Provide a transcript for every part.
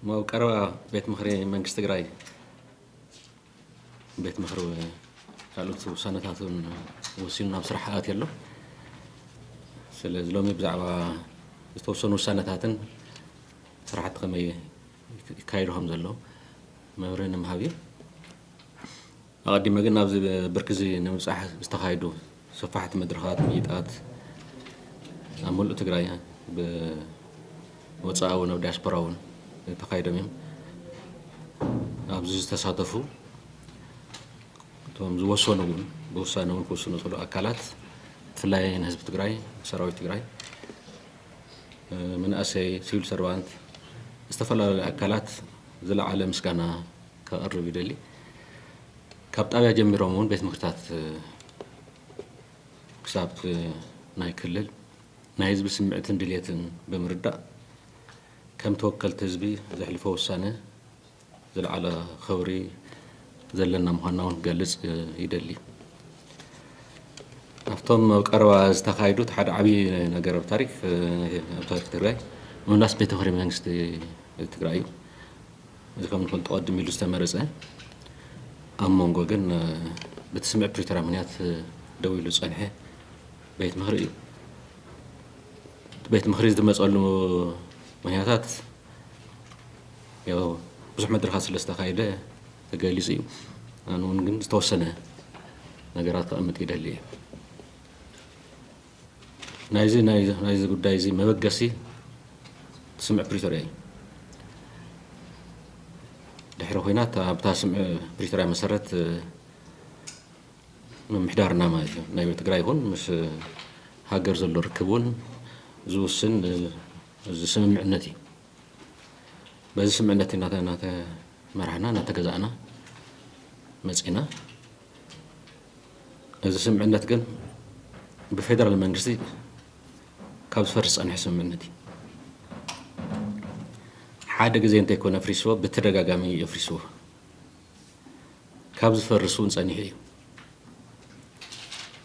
እሞ ኣብ ቀረባ ቤት ምኽሪ መንግስቲ ትግራይ ቤት ምኽሪ ካልኦት ውሳነታት እውን ወሲኑ ናብ ስራሕ ኣትዩ ኣሎ ስለዚ ሎሚ ብዛዕባ ዝተወሰኑ ውሳነታትን ስራሕቲ ከመይ ይካየዱ ከም ዘሎ መብርሂ ንምሃብ እዩ ኣቐዲመ ግን ናብዚ ብርኪዚ ንምብፃሕ ዝተኻይዱ ሰፋሕቲ መድረኻት ምይይጣት ኣብ ሙሉእ ትግራይ ብወፃኢ ውን ኣብ ዲያስፖራ ውን ተኻይዶም እዮም። ኣብዚ ዝተሳተፉ እቶም ዝወሰኑ ውን ብውሳነ ውን ክውስኑ ዝኽእሉ ኣካላት ብፍላይ ንህዝቢ ትግራይ፣ ሰራዊት ትግራይ፣ መናእሰይ፣ ሲቪል ሰርቫንት ዝተፈላለዩ ኣካላት ዝለዓለ ምስጋና ከቕርብ ይደሊ። ካብ ጣብያ ጀሚሮም እውን ቤት ምኽርታት ክሳብ ናይ ክልል ናይ ህዝቢ ስምዕትን ድልየትን ብምርዳእ ከም ተወከልቲ ህዝቢ ዘሕልፎ ውሳነ ዝለዓለ ኸብሪ ዘለና ምዃንና እውን ክገልፅ ይደሊ ኣብቶም ኣብ ቀረባ ዝተኻየዱ እቲ ሓደ ዓብዪ ነገር ኣብ ታሪክ ኣብ ታሪክ ትግራይ ምምላስ ቤት ምኽሪ መንግስቲ ትግራይ እዩ እዚ ከም ንፈልጦ ቀድም ኢሉ ዝተመረፀ ኣብ መንጎ ግን በቲ ስምዕ ፕሪቶርያ ምክንያት ደው ኢሉ ዝፀንሐ ቤት ምክሪ እዩ እቲ ቤት ምክሪ ዝመፀሉ ምክንያታት ያው ብዙሕ መድረኻት ስለ ዝተካየደ ተገሊፁ እዩ ኣነ እውን ግን ዝተወሰነ ነገራት ከቐምጥ ይደሊ እየ ናይዚ ናይዚ ጉዳይ እዚ መበገሲ ስምዕ ፕሪቶርያ እዩ ድሕሪ ኩናት ኣብታ ስምዕ ፕሪቶርያ መሰረት ምምሕዳርና ማለት እዩ ናይ ትግራይ ይኹን ምስ ሃገር ዘሎ ርክብ እውን ዝውስን እዚ ስምምዕነት እዩ በዚ ስምምዕነት እናተመራሕና እናተገዛእና መፂና እዚ ስምምዕነት ግን ብፌደራል መንግስቲ ካብ ዝፈርስ ዝፀንሐ ስምምዕነት እዩ ሓደ ግዜ እንተይኮነ ኣፍሪስዎ ብተደጋጋሚ እዩ ኣፍሪስዎ ካብ ዝፈርስ እውን ፀኒሑ እዩ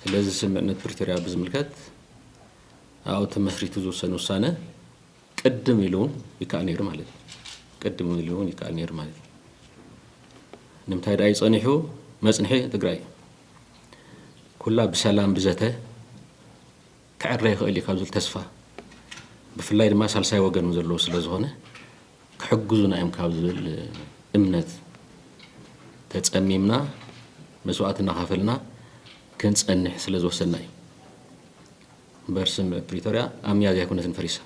ስለዚ ስምምዕነት ፕሪቶሪያ ብዝምልከት ኣብኡ ተመስሪቱ ዝውሰን ውሳነ ቅድም ኢሉ ውን ይካኣል ነይሩ ማለት እዩ ቅድም ኢሉ ውን ይካኣል ነይሩ ማለት እዩ ንምንታይ ደኣ እዩ ጸኒሑ መጽንሒ ትግራይ ኩላ ብሰላም ብዘተ ክዕረ ይኽእል እዩ ካብ ዝብል ተስፋ ብፍላይ ድማ ሳልሳይ ወገን ዘለዎ ስለ ዝኾነ ክሕግዙና እዮም ካብ ዝብል እምነት ተፀሚምና መስዋእቲ እናኸፈልና ክንፀንሕ ስለ ዝወሰና እዩ እምበር ስምምዕ ፕሪቶርያ ኣብ ሚያዝያ ኣይኮነትን ፈሪሳ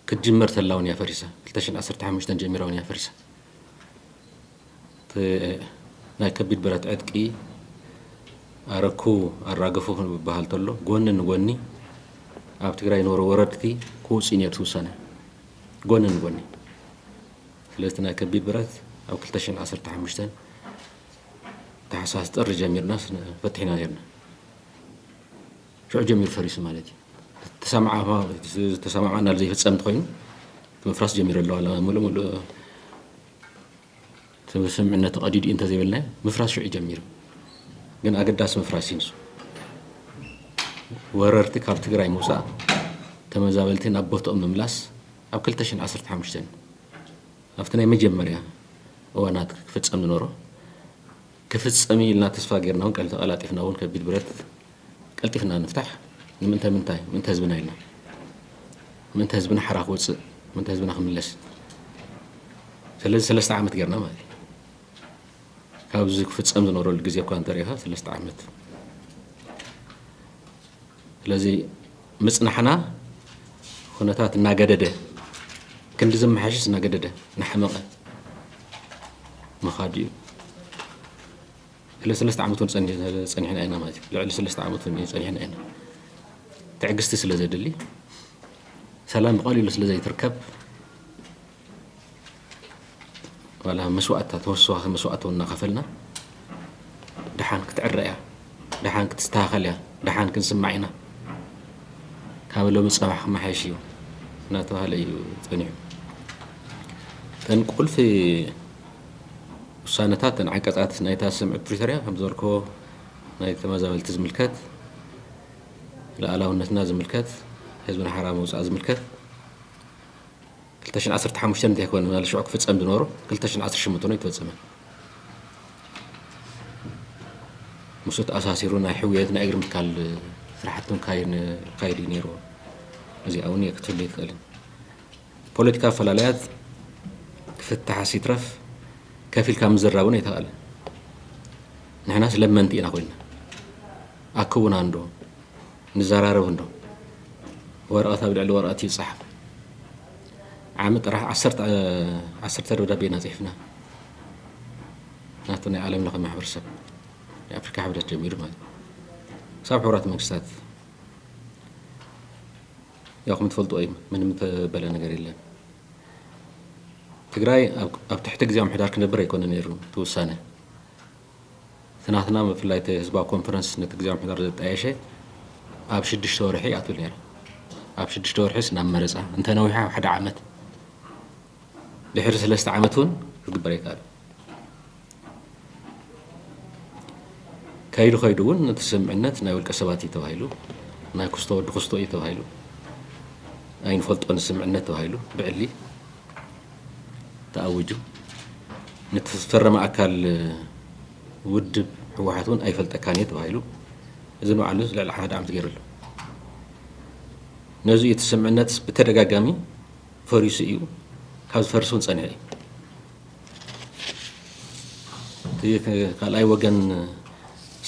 ክትጅመር ተላ እውን እያ ፈሪሳ ክልተ ሽሕን ዓሰርተ ሓሙሽተን ጀሚራ እውን እያ ፈሪሳ ናይ ከቢድ ብረት ዕጥቂ ኣረኩ ኣራገፉ ክንብሃል ተሎ ጎኒ ንጎኒ ኣብ ትግራይ ነበሩ ወረድቲ ክውፅኡ ነይሩ እቲ ውሳነ ጎኒ ንጎኒ ስለዚ ናይ ከቢድ ብረት ኣብ ክልተ ሽሕን ዓሰርተ ሓሙሽተን ታሕሳስ ጥሪ ጀሚርና ፈቲሕና ነርና ሽዑ ጀሚሩ ፈሪሱ ማለት እዩ። ዝተሰማማዕናሉ ዘይፍፀም እንተኾይኑ ምፍራስ ጀሚሩ ኣሎ ዋላ ሙሉእ ሙሉእ ስምምዕነት ተቐዲዱ እዩ እንተዘይበልናዮ ምፍራስ ሽዑ ጀሚሩ ግን ኣገዳሲ ምፍራስ እዩ ንሱ። ወረርቲ ካብ ትግራይ ምውፃእ፣ ተመዛበልቲ ናብ ቦትኦም ምምላስ ኣብ 2015 ኣብቲ ናይ መጀመርያ እዋናት ክፍፀም ዝነበሮ ክፍጸም እዩ ኢልና ተስፋ ጌርና ውን ተቐላጢፍና ውን ከቢድ ብረት ቀልጢፍና ንፍታሕ ንምንተ ምንታይ ምእንተ ህዝብና ኢልና ምእንተ ህዝብና ሓራ ክወጽእ ምእንተ ህዝብና ክምለስ ስለዚ ሰለስተ ዓመት ጌርና ማለት እዩ ካብዚ ክፍጸም ዝነበረሉ ግዜ እኳ እንተሪእኻ ሰለስተ ዓመት ስለዚ ምጽናሕና ኩነታት እናገደደ ክንዲ ዝመሓሸሽ እናገደደ እናሓመቐ ምኻዱ እዩ ስለሰለስተ ዓመት እውን ፀኒሕና ኢና ማለት እዩ ልዕሊ ሰለስተ ዓመት እውን እዩ ፀኒሕና ኢና ትዕግስቲ ስለ ዘድሊ ሰላም ብቐሊሉ ስለ ዘይትርከብ ዋላ መስዋእትታት ተወሰዋኺ መስዋእቲ እውን እናኸፈልና ደሓን ክትዕረ እያ ደሓን ክትስተኻኸል እያ ደሓን ክንስማዕ ኢና ካብ ሎሚ ፀባሕ ክመሓየሽ እዩ እናተባሃለ እዩ ፀኒሑ እተን ቁልፊ ውሳነታት እተን ዓንቀፃት ናይታ ስምዒት ፕሪቶሪያ ከም ዝበልክዎ ናይ ተመዛበልቲ ዝምልከት ሉዓላውነትና ዝምልከት ህዝብና ሓራ ምውፃእ ዝምልከት ክልተ ሽሕን ዓሰርተ ሓሙሽተን እንታይ ኮነ ምናለ ሽዑ ክፍጸም ዝነበሮ ክልተ ሽሕን ዓሰርተ ሸሞንተን ኣይተፈጸመን ምስኡ ተኣሳሲሩ ናይ ሕውየት ናይ እግሪ ምትካል ስራሕቲ ክካየድ እዩ ነይርዎ እዚኣ እውን ክትህሉ ይትኽእልን ፖለቲካ ኣፈላለያት ክፍታሕስ ይትረፍ ከፍ ኢልካ ምዝራብ እውን ኣይተኽእልን ንሕናስ ለመንቲ ኢና ኮይና ኣክቡና እንዶ ንዘራረብ እንዶ ወረቐት ኣብ ልዕሊ ወረቐት ይፀሓፍ ዓመት ጥራሕ ዓሰርተ ደብዳቤ ኢና ፅሒፍና ናቱ ናይ ዓለም ለኸ ማሕበረሰብ ናይ ኣፍሪካ ሕብረት ጀሚሩ ማለት ክሳብ ሕብራት መንግስታት ያው ከም ትፈልጡ እዩ ምንም ተበለ ነገር የለን ትግራይ ኣብ ትሕቲ ግዜ ምሕዳር ክነብር ኣይኮነ ነይሩ ትውሳነ እቲ ናትና ብፍላይ እቲ ህዝባዊ ኮንፈረንስ ነቲ ግዜ ምሕደራ ዘጣየሸ ኣብ ሽዱሽተ ወርሒ ይኣትው ነይረ ኣብ ሽዱሽተ ወርሒስ ናብ መረፃ እንተነዊሓ ኣብ ሓደ ዓመት ድሕሪ ሰለስተ ዓመት እውን ክግበር ኣይከኣል ከይዱ ከይዱ እውን እቲ ስምዕነት ናይ ውልቀ ሰባት እዩ ተባሂሉ ናይ ክስቶ ወዲ ክስቶ እዩ ተባሂሉ ኣይንፈልጦን ስምዕነት ተባሂሉ ብዕሊ ተኣዊጁ ንቲ ዝፈረመ ኣካል ውድብ ህወሓት እውን ኣይፈልጠካን እየ ተባሂሉ እዚ ንባዕሉ ልዕሊ ሓደ ዓመት ገይሩ ኣሎ ነዚ እቲ ስምዕነት ብተደጋጋሚ ፈሪሱ እዩ ካብ ዝፈርስ እውን ፀኒሐ እዩ ካልኣይ ወገን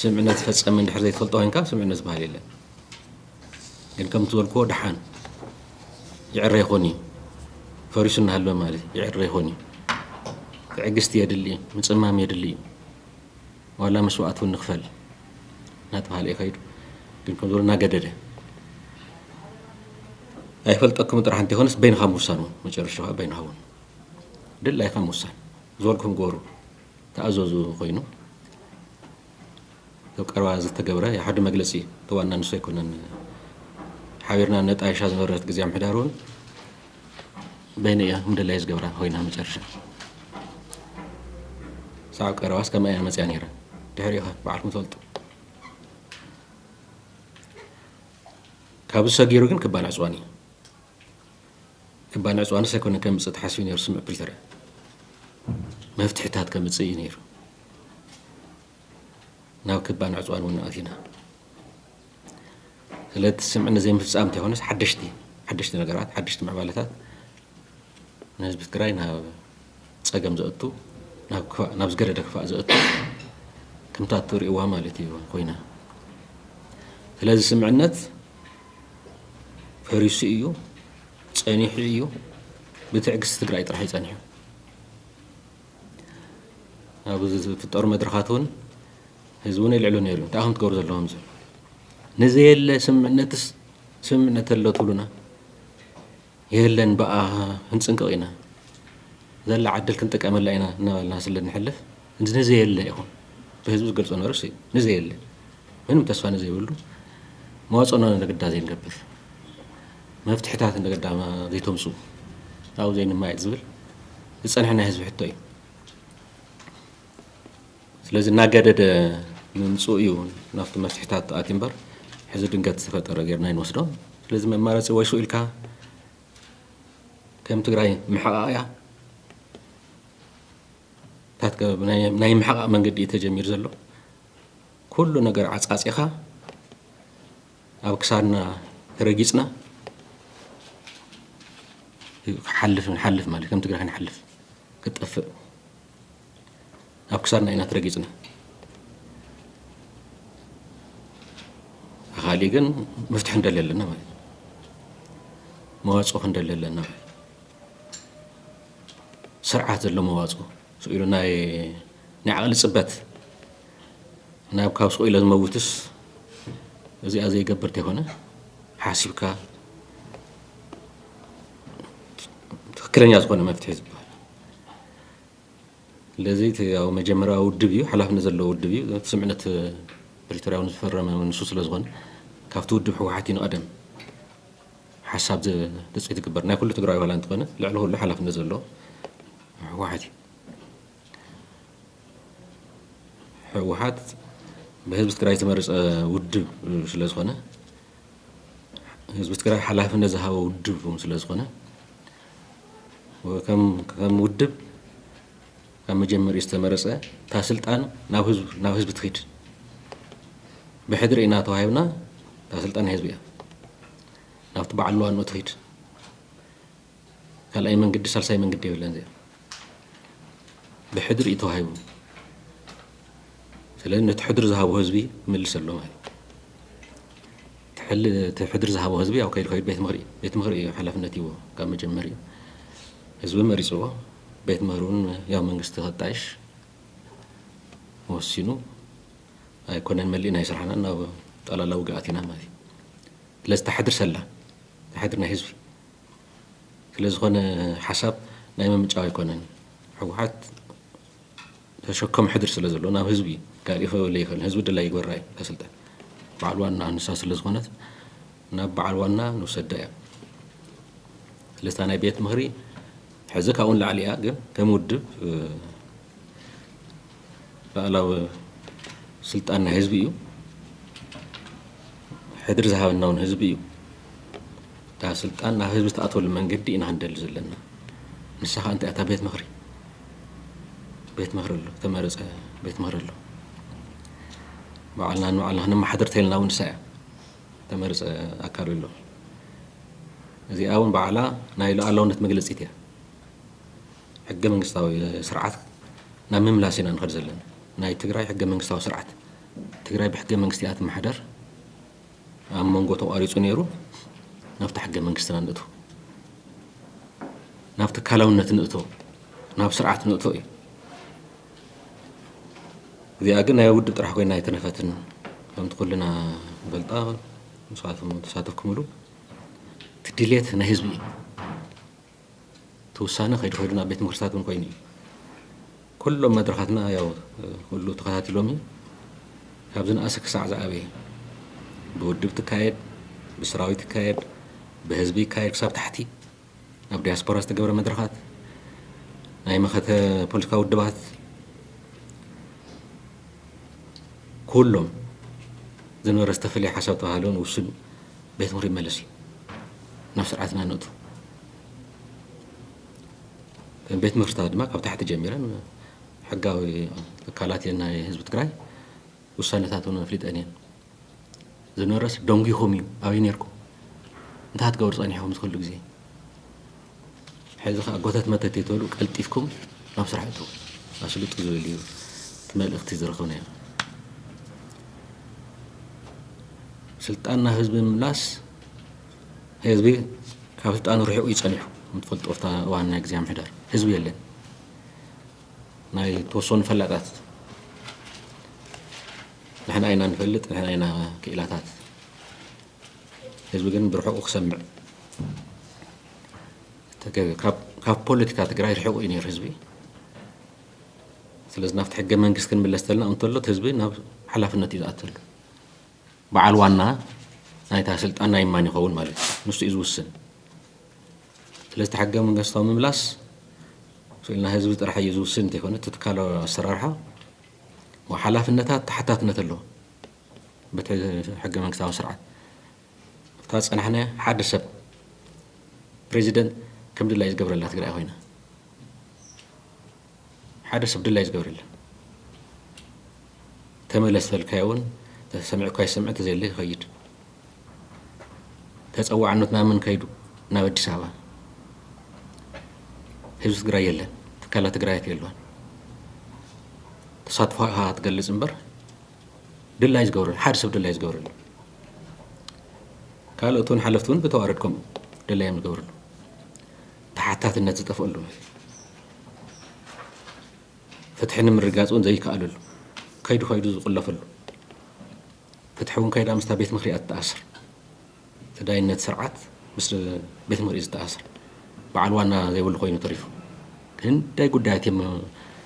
ስምዕነት ፈፀመ እንድሕር ዘይትፈልጦ ኮይንካ ስምዕነት ዝበሃል የለን ግን ከምቲ ዝበልክዎ ደሓን ይዕረ ይኾን እዩ ፈሪሱ እናሃለወ ማለት እዩ ይዕረ ይኾን እዩ ትዕግስቲ የድሊ እዩ ምፅማም የድሊ እዩ ዋላ መስዋእት እውን ንኽፈል እናተባሃለ እዩ ከይዱ ግን ከም ዝበሉ እናገደደ ኣይፈልጠኩም ጥራሕ እንተይኮነስ በይንኻ ምውሳን እውን መጨረሻ ከዓ በይንኻ እውን ድላይካ ምውሳን ዝበልኩም ገበሩ ተኣዘዙ ኮይኑ ኣብ ቀረባ ዝተገብረ ሓደ መግለፂ እቲ ዋና ንሱ ኣይኮነን ሓቢርና ነጣይሻ ዝነበረት ግዜ ምሕዳር እውን በይነ እያ ምደላይ ዝገብራ ኮይና መጨረሻ ሳዕ ቀረባስ ከምኣ እያ መፅያ ነይራ ድሕሪኡ ኸ በዓልኩም ትፈልጡ ካብዚ ሰጊሩ ግን ክባላዕ ፅዋን እዩ እባ ንዕጽዋንስ ኣይኮነን ከምጽእ ተሓሲቡ ነይሩ ስምዕ ፕሪቶርያ መፍትሕታት ከምጽእ እዩ ነይሩ ናብ ክባ ንዕጽዋን እውን ኣቲና ስለቲ ስምዕ ንዘይምፍጻም እንተይኮነስ ሓደሽቲ ሓደሽቲ ነገራት ሓደሽቲ ምዕባለታት ንህዝቢ ትግራይ ናብ ፀገም ዘእቱ ናብ ዝገደደ ክፋእ ዘእቱ ከምታ እትርእይዋ ማለት እዩ ኮይና ስለዚ ስምዕነት ፈሪሱ እዩ ፀኒሑ እዩ ብትዕግስቲ ትግራይ ጥራሕ እዩ ፀኒሑ ኣብ ዝፍጠሩ መድረኻት እውን ህዝቢ እውን የልዕሉ ነይሩ እንታይ ከም ትገብሩ ዘለዎም ዝብል ንዘየለ ስምምዕነትስ ስምምዕነት ኣሎ ትብሉና የለን ብኣ ክንጽንቅቕ ኢና ዘላ ዕድል ክንጥቀመላ ኢና እናበልና ስለ ንሕልፍ እዚ ንዘየለ ኢኹም ብህዝቢ ዝገልጾ ነርስ እዩ ንዘየለ ምንም ተስፋ ንዘይብሉ መዋጽኦና ንግዳ ዘይንገብር መፍትሕታት ንግዳ ዘይተምጽኡ ኣብኡ ዘይንማየጥ ዝብል ዝጸንሐ ናይ ህዝቢ ሕቶ እዩ። ስለዚ እናገደደ ምምፅኡ እዩ ናብቲ መፍትሒታት ኣትዩ እምበር ሕዚ ድንገት ዝተፈጠረ ጌርና ኣይንወስዶ ስለዚ መማረፂ ወይ ሱቅ ኢልካ ከም ትግራይ ምሕቓቕ እያ ናይ ምሕቓቕ መንገዲ እዩ ተጀሚሩ ዘሎ ኩሉ ነገር ዓፃፂኻ ኣብ ክሳድና ተረጊፅና ሓልፍ ንሓልፍ ማለት ከም ትግራይ ክንሓልፍ ክትጠፍእ ኣብ ክሳድና ኢና ተረጊፅና ብካሊእ ግን መፍትሒ ንደሊ ኣለና ማለት እዩ መዋፅኦ ክንደሊ ኣለና ማለት እዩ ስርዓት ዘሎ መዋፅኦ ስቅ ኢሉ ናይ ናይ ዓቕሊ ፅበት ናብ ካብ ስቅ ኢለ ዝመውትስ እዚኣ ዘይገብር ተይኮነ ሓሲብካ ትክክለኛ ዝኾነ መፍትሒ ዝበሃል ስለዚ እቲ ያው መጀመርያዊ ውድብ እዩ ሓላፍነት ዘለዎ ውድብ እዩ እቲ ስምዕነት ፕሪቶርያ እውን ዝፈረመ ንሱ ስለ ዝኾነ ካብቲ ውድብ ህወሓት እዩ ንቐደም ሓሳብ ትፅቢት ዝግበር ናይ ኩሉ ትግራዊ ዋላ እንተኾነ ልዕሊ ኩሉ ሓላፍነት ዘለዎ ህወሓት እዩ ህወሓት ብህዝቢ ትግራይ ዝተመረፀ ውድብ ስለ ዝኾነ ህዝቢ ትግራይ ሓላፍነት ዝሃበ ውድብ ስለ ዝኾነ ከም ውድብ ካብ መጀመሪኡ ዝተመረፀ እታ ስልጣን ናብ ህዝቢ ትኽድ ብሕድሪ ኢና ተዋሂብና እታ ስልጣን ናይ ህዝቢ እያ ናብቲ በዓል ዋንኡ ትኽድ ካልኣይ መንገዲ ሳልሳይ መንገዲ የብለን እዚኣ ብሕድሪ እዩ ተዋሂቡ ስለዚ ነቲ ሕድሪ ዝሃቦ ህዝቢ ይምልስ ኣሎ ማለት እዩ እቲ ሕድሪ ዝሃቦ ህዝቢ ያው ከይዱ ከይዱ ቤት ምኽሪ እዩ። ቤት ምኽሪ እዩ ሓላፍነት ሂብዎ ካብ መጀመሪኡ። ህዝቢ መሪፅዎ። ቤት ምኽሪ እውን ያው መንግስቲ ከጣይሽ ወሲኑ ኣይኮነን መሊእና እዩ ስራሕና ናብ ጠላላ ውግእ ኣቲና ማለት እዩ። ስለዚ እታ ሕድሪ ሰላ እታ ሕድሪ ናይ ህዝቢ ስለዝኾነ ሓሳብ ናይ ምምንጫው ኣይኮነን። ህወሓት ተሸከም ሕድሪ ስለ ዘሎ ናብ ህዝቢ ካሊእ ከበለ ይክእል ህዝቢ ድላይ ይግበራ እዩ ከስልጠን በዓል ዋና ንሳ ስለ ዝኮነት ናብ በዓል ዋና ንውሰዳ እያ ስለዚ ናይ ቤት ምክሪ ሕዚ ካብኡ ንላዕሊ እያ ግን ከም ውድብ ላእላዊ ስልጣን ናይ ህዝቢ እዩ ሕድሪ ዝሃበና እውን ህዝቢ እዩ እታ ስልጣን ናብ ህዝቢ ተኣትወሉ መንገዲ ኢና ክንደሊ ዘለና ንሳ ከዓ እንታይ እያ እታ ቤት ምክሪ ቤት ምህሪ ኣሎ ዝተመረፀ ቤት ምህሪ ኣሎ ባዕልና ንባዕልና ክነመሓድር ተይልና እውን ንሳ እያ ተመርፀ ኣካል ኣሎ እዚኣ እውን ባዕላ ናይ ሉኣላውነት መግለፂት እያ ሕገ መንግስታዊ ስርዓት ናብ ምምላስ ኢና ንኸድ ዘለና ናይ ትግራይ ሕገ መንግስታዊ ስርዓት ትግራይ ብሕገ መንግስቲ እያ ትመሓደር ኣብ መንጎ ተቋሪፁ ነይሩ ናብቲ ሕገ መንግስትና ንእቶ ናብ ትካላውነት ንእቶ ናብ ስርዓት ንእቶ እዩ እዚኣ ግን ናይ ውድብ ጥራሕ ኮይና ኣይተነፈትን ከምቲ ኩልና ንፈልጣ ንስኻትኩም ተሳተፍኩምሉ እቲ ድሌት ናይ ህዝቢ እዩ እቲ ውሳነ ከይዱ ከይዱ ናብ ቤት ምኽርታት እውን ኮይኑ እዩ። ኩሎም መድረኻትና ያው ኩሉ ተኸታቲሎም እዩ። ካብ ዝነኣሰ ክሳዕ ዝዓበየ ብውድብ ትካየድ፣ ብሰራዊት ይካየድ፣ ብህዝቢ ይካየድ ክሳብ ታሕቲ ኣብ ዲያስፖራ ዝተገብረ መድረኻት ናይ መኸተ ፖለቲካዊ ውድባት ኩሎም ዝነበረ ዝተፈለየ ሓሳብ ተባሃለውን ውሱን ቤት ምኽሪ ይመለስ እዩ ናብ ስርዓትና ነእቱ ቤት ምኽርታት ድማ ካብ ታሕቲ ጀሚረን ሕጋዊ ትካላት እየን ናይ ህዝቢ ትግራይ ውሳነታት እውን ኣፍሊጠን እየን ዝነበረስ ደንጒኹም እዩ ኣብይ ነርኩም እንታይ ትገብሩ ፀኒሕኹም ዝክሉ ግዜ ሐዚ ከኣ ጎተት መተት ዘይትበሉ ቀልጢፍኩም ናብ ስራሕ እተዉ ኣስልጡ ዝብል እዩ እቲ መልእኽቲ ዝረኸብናዮ። ስልጣን ናብ ህዝቢ ምምላስ ህዝቢ ካብ ስልጣኑ ርሒቑ እዩ ጸኒሑ ምትፈልጦ ኣብታ እዋን ናይ ግዜ ምሕደር ህዝቢ የለን ናይ ተወሰኑ ፈላጣት ንሕና ኢና ንፈልጥ ንሕና ኢና ክኢላታት ህዝቢ ግን ብርሑቁ ክሰምዕ ተገቢ እዩ ካብ ፖለቲካ ትግራይ ርሕቁ እዩ ነይሩ ህዝቢ ስለዚ ናብቲ ሕገ መንግስቲ ክንምለስ ተልና እንተሎ እቲ ህዝቢ ናብ ሓላፍነት እዩ ዝኣተሉ በዓል ዋና ናይታ ስልጣን ናይ ማን ይኸውን ማለት እዩ ንሱ እዩ ዝውስን ስለዚ እቲ ሕገ መንግስታዊ ምምላስ ስእልና ህዝቢ ጥራሕ እዩ ዝውስን እንተይኮነ እቲ ትካላዊ ኣሰራርሓ ሓላፍነታት ተሓታትነት ኣለዎ በቲ ሕገ መንግስታዊ ስርዓት እታ ዝፀናሕናያ ሓደ ሰብ ፕሬዚደንት ከም ድላዩ ዝገብረላ ትግራይ ኮይና ሓደ ሰብ ድላዩ ዝገብረላ ተመለስ ተልካዮ እውን ተሰሚዑ እኳ ይሰምዕ ተዘየለ ይኸይድ ተፀዋዕነት ናብ ምን ከይዱ ናብ ኣዲስ ኣበባ ህዝቢ ትግራይ የለን ትካላት ትግራይ የለዋን ተሳትፎ ትገልፅ እምበር ድላይ ዝገብረሉ ሓደ ሰብ ድላይ ዝገብረሉ ካልኦት እውን ሓለፍቲ እውን ብተዋረድ ከምኡ ድላዮም ዝገብረሉ ተሓታትነት ዝጠፍኣሉ ፍትሒ ንምርጋፅ እውን ዘይከኣለሉ ከይዱ ከይዱ ዝቁለፈሉ ፍትሒ እውን ከይዳ ምስታ ቤት ምክሪያ ትተኣስር ተዳይነት ስርዓት ምስ ቤት ምኽሪ እዩ ዝተኣሳሰር። በዓል ዋና ዘይብሉ ኮይኑ ተሪፉ። ክንደይ ጉዳያት እዮም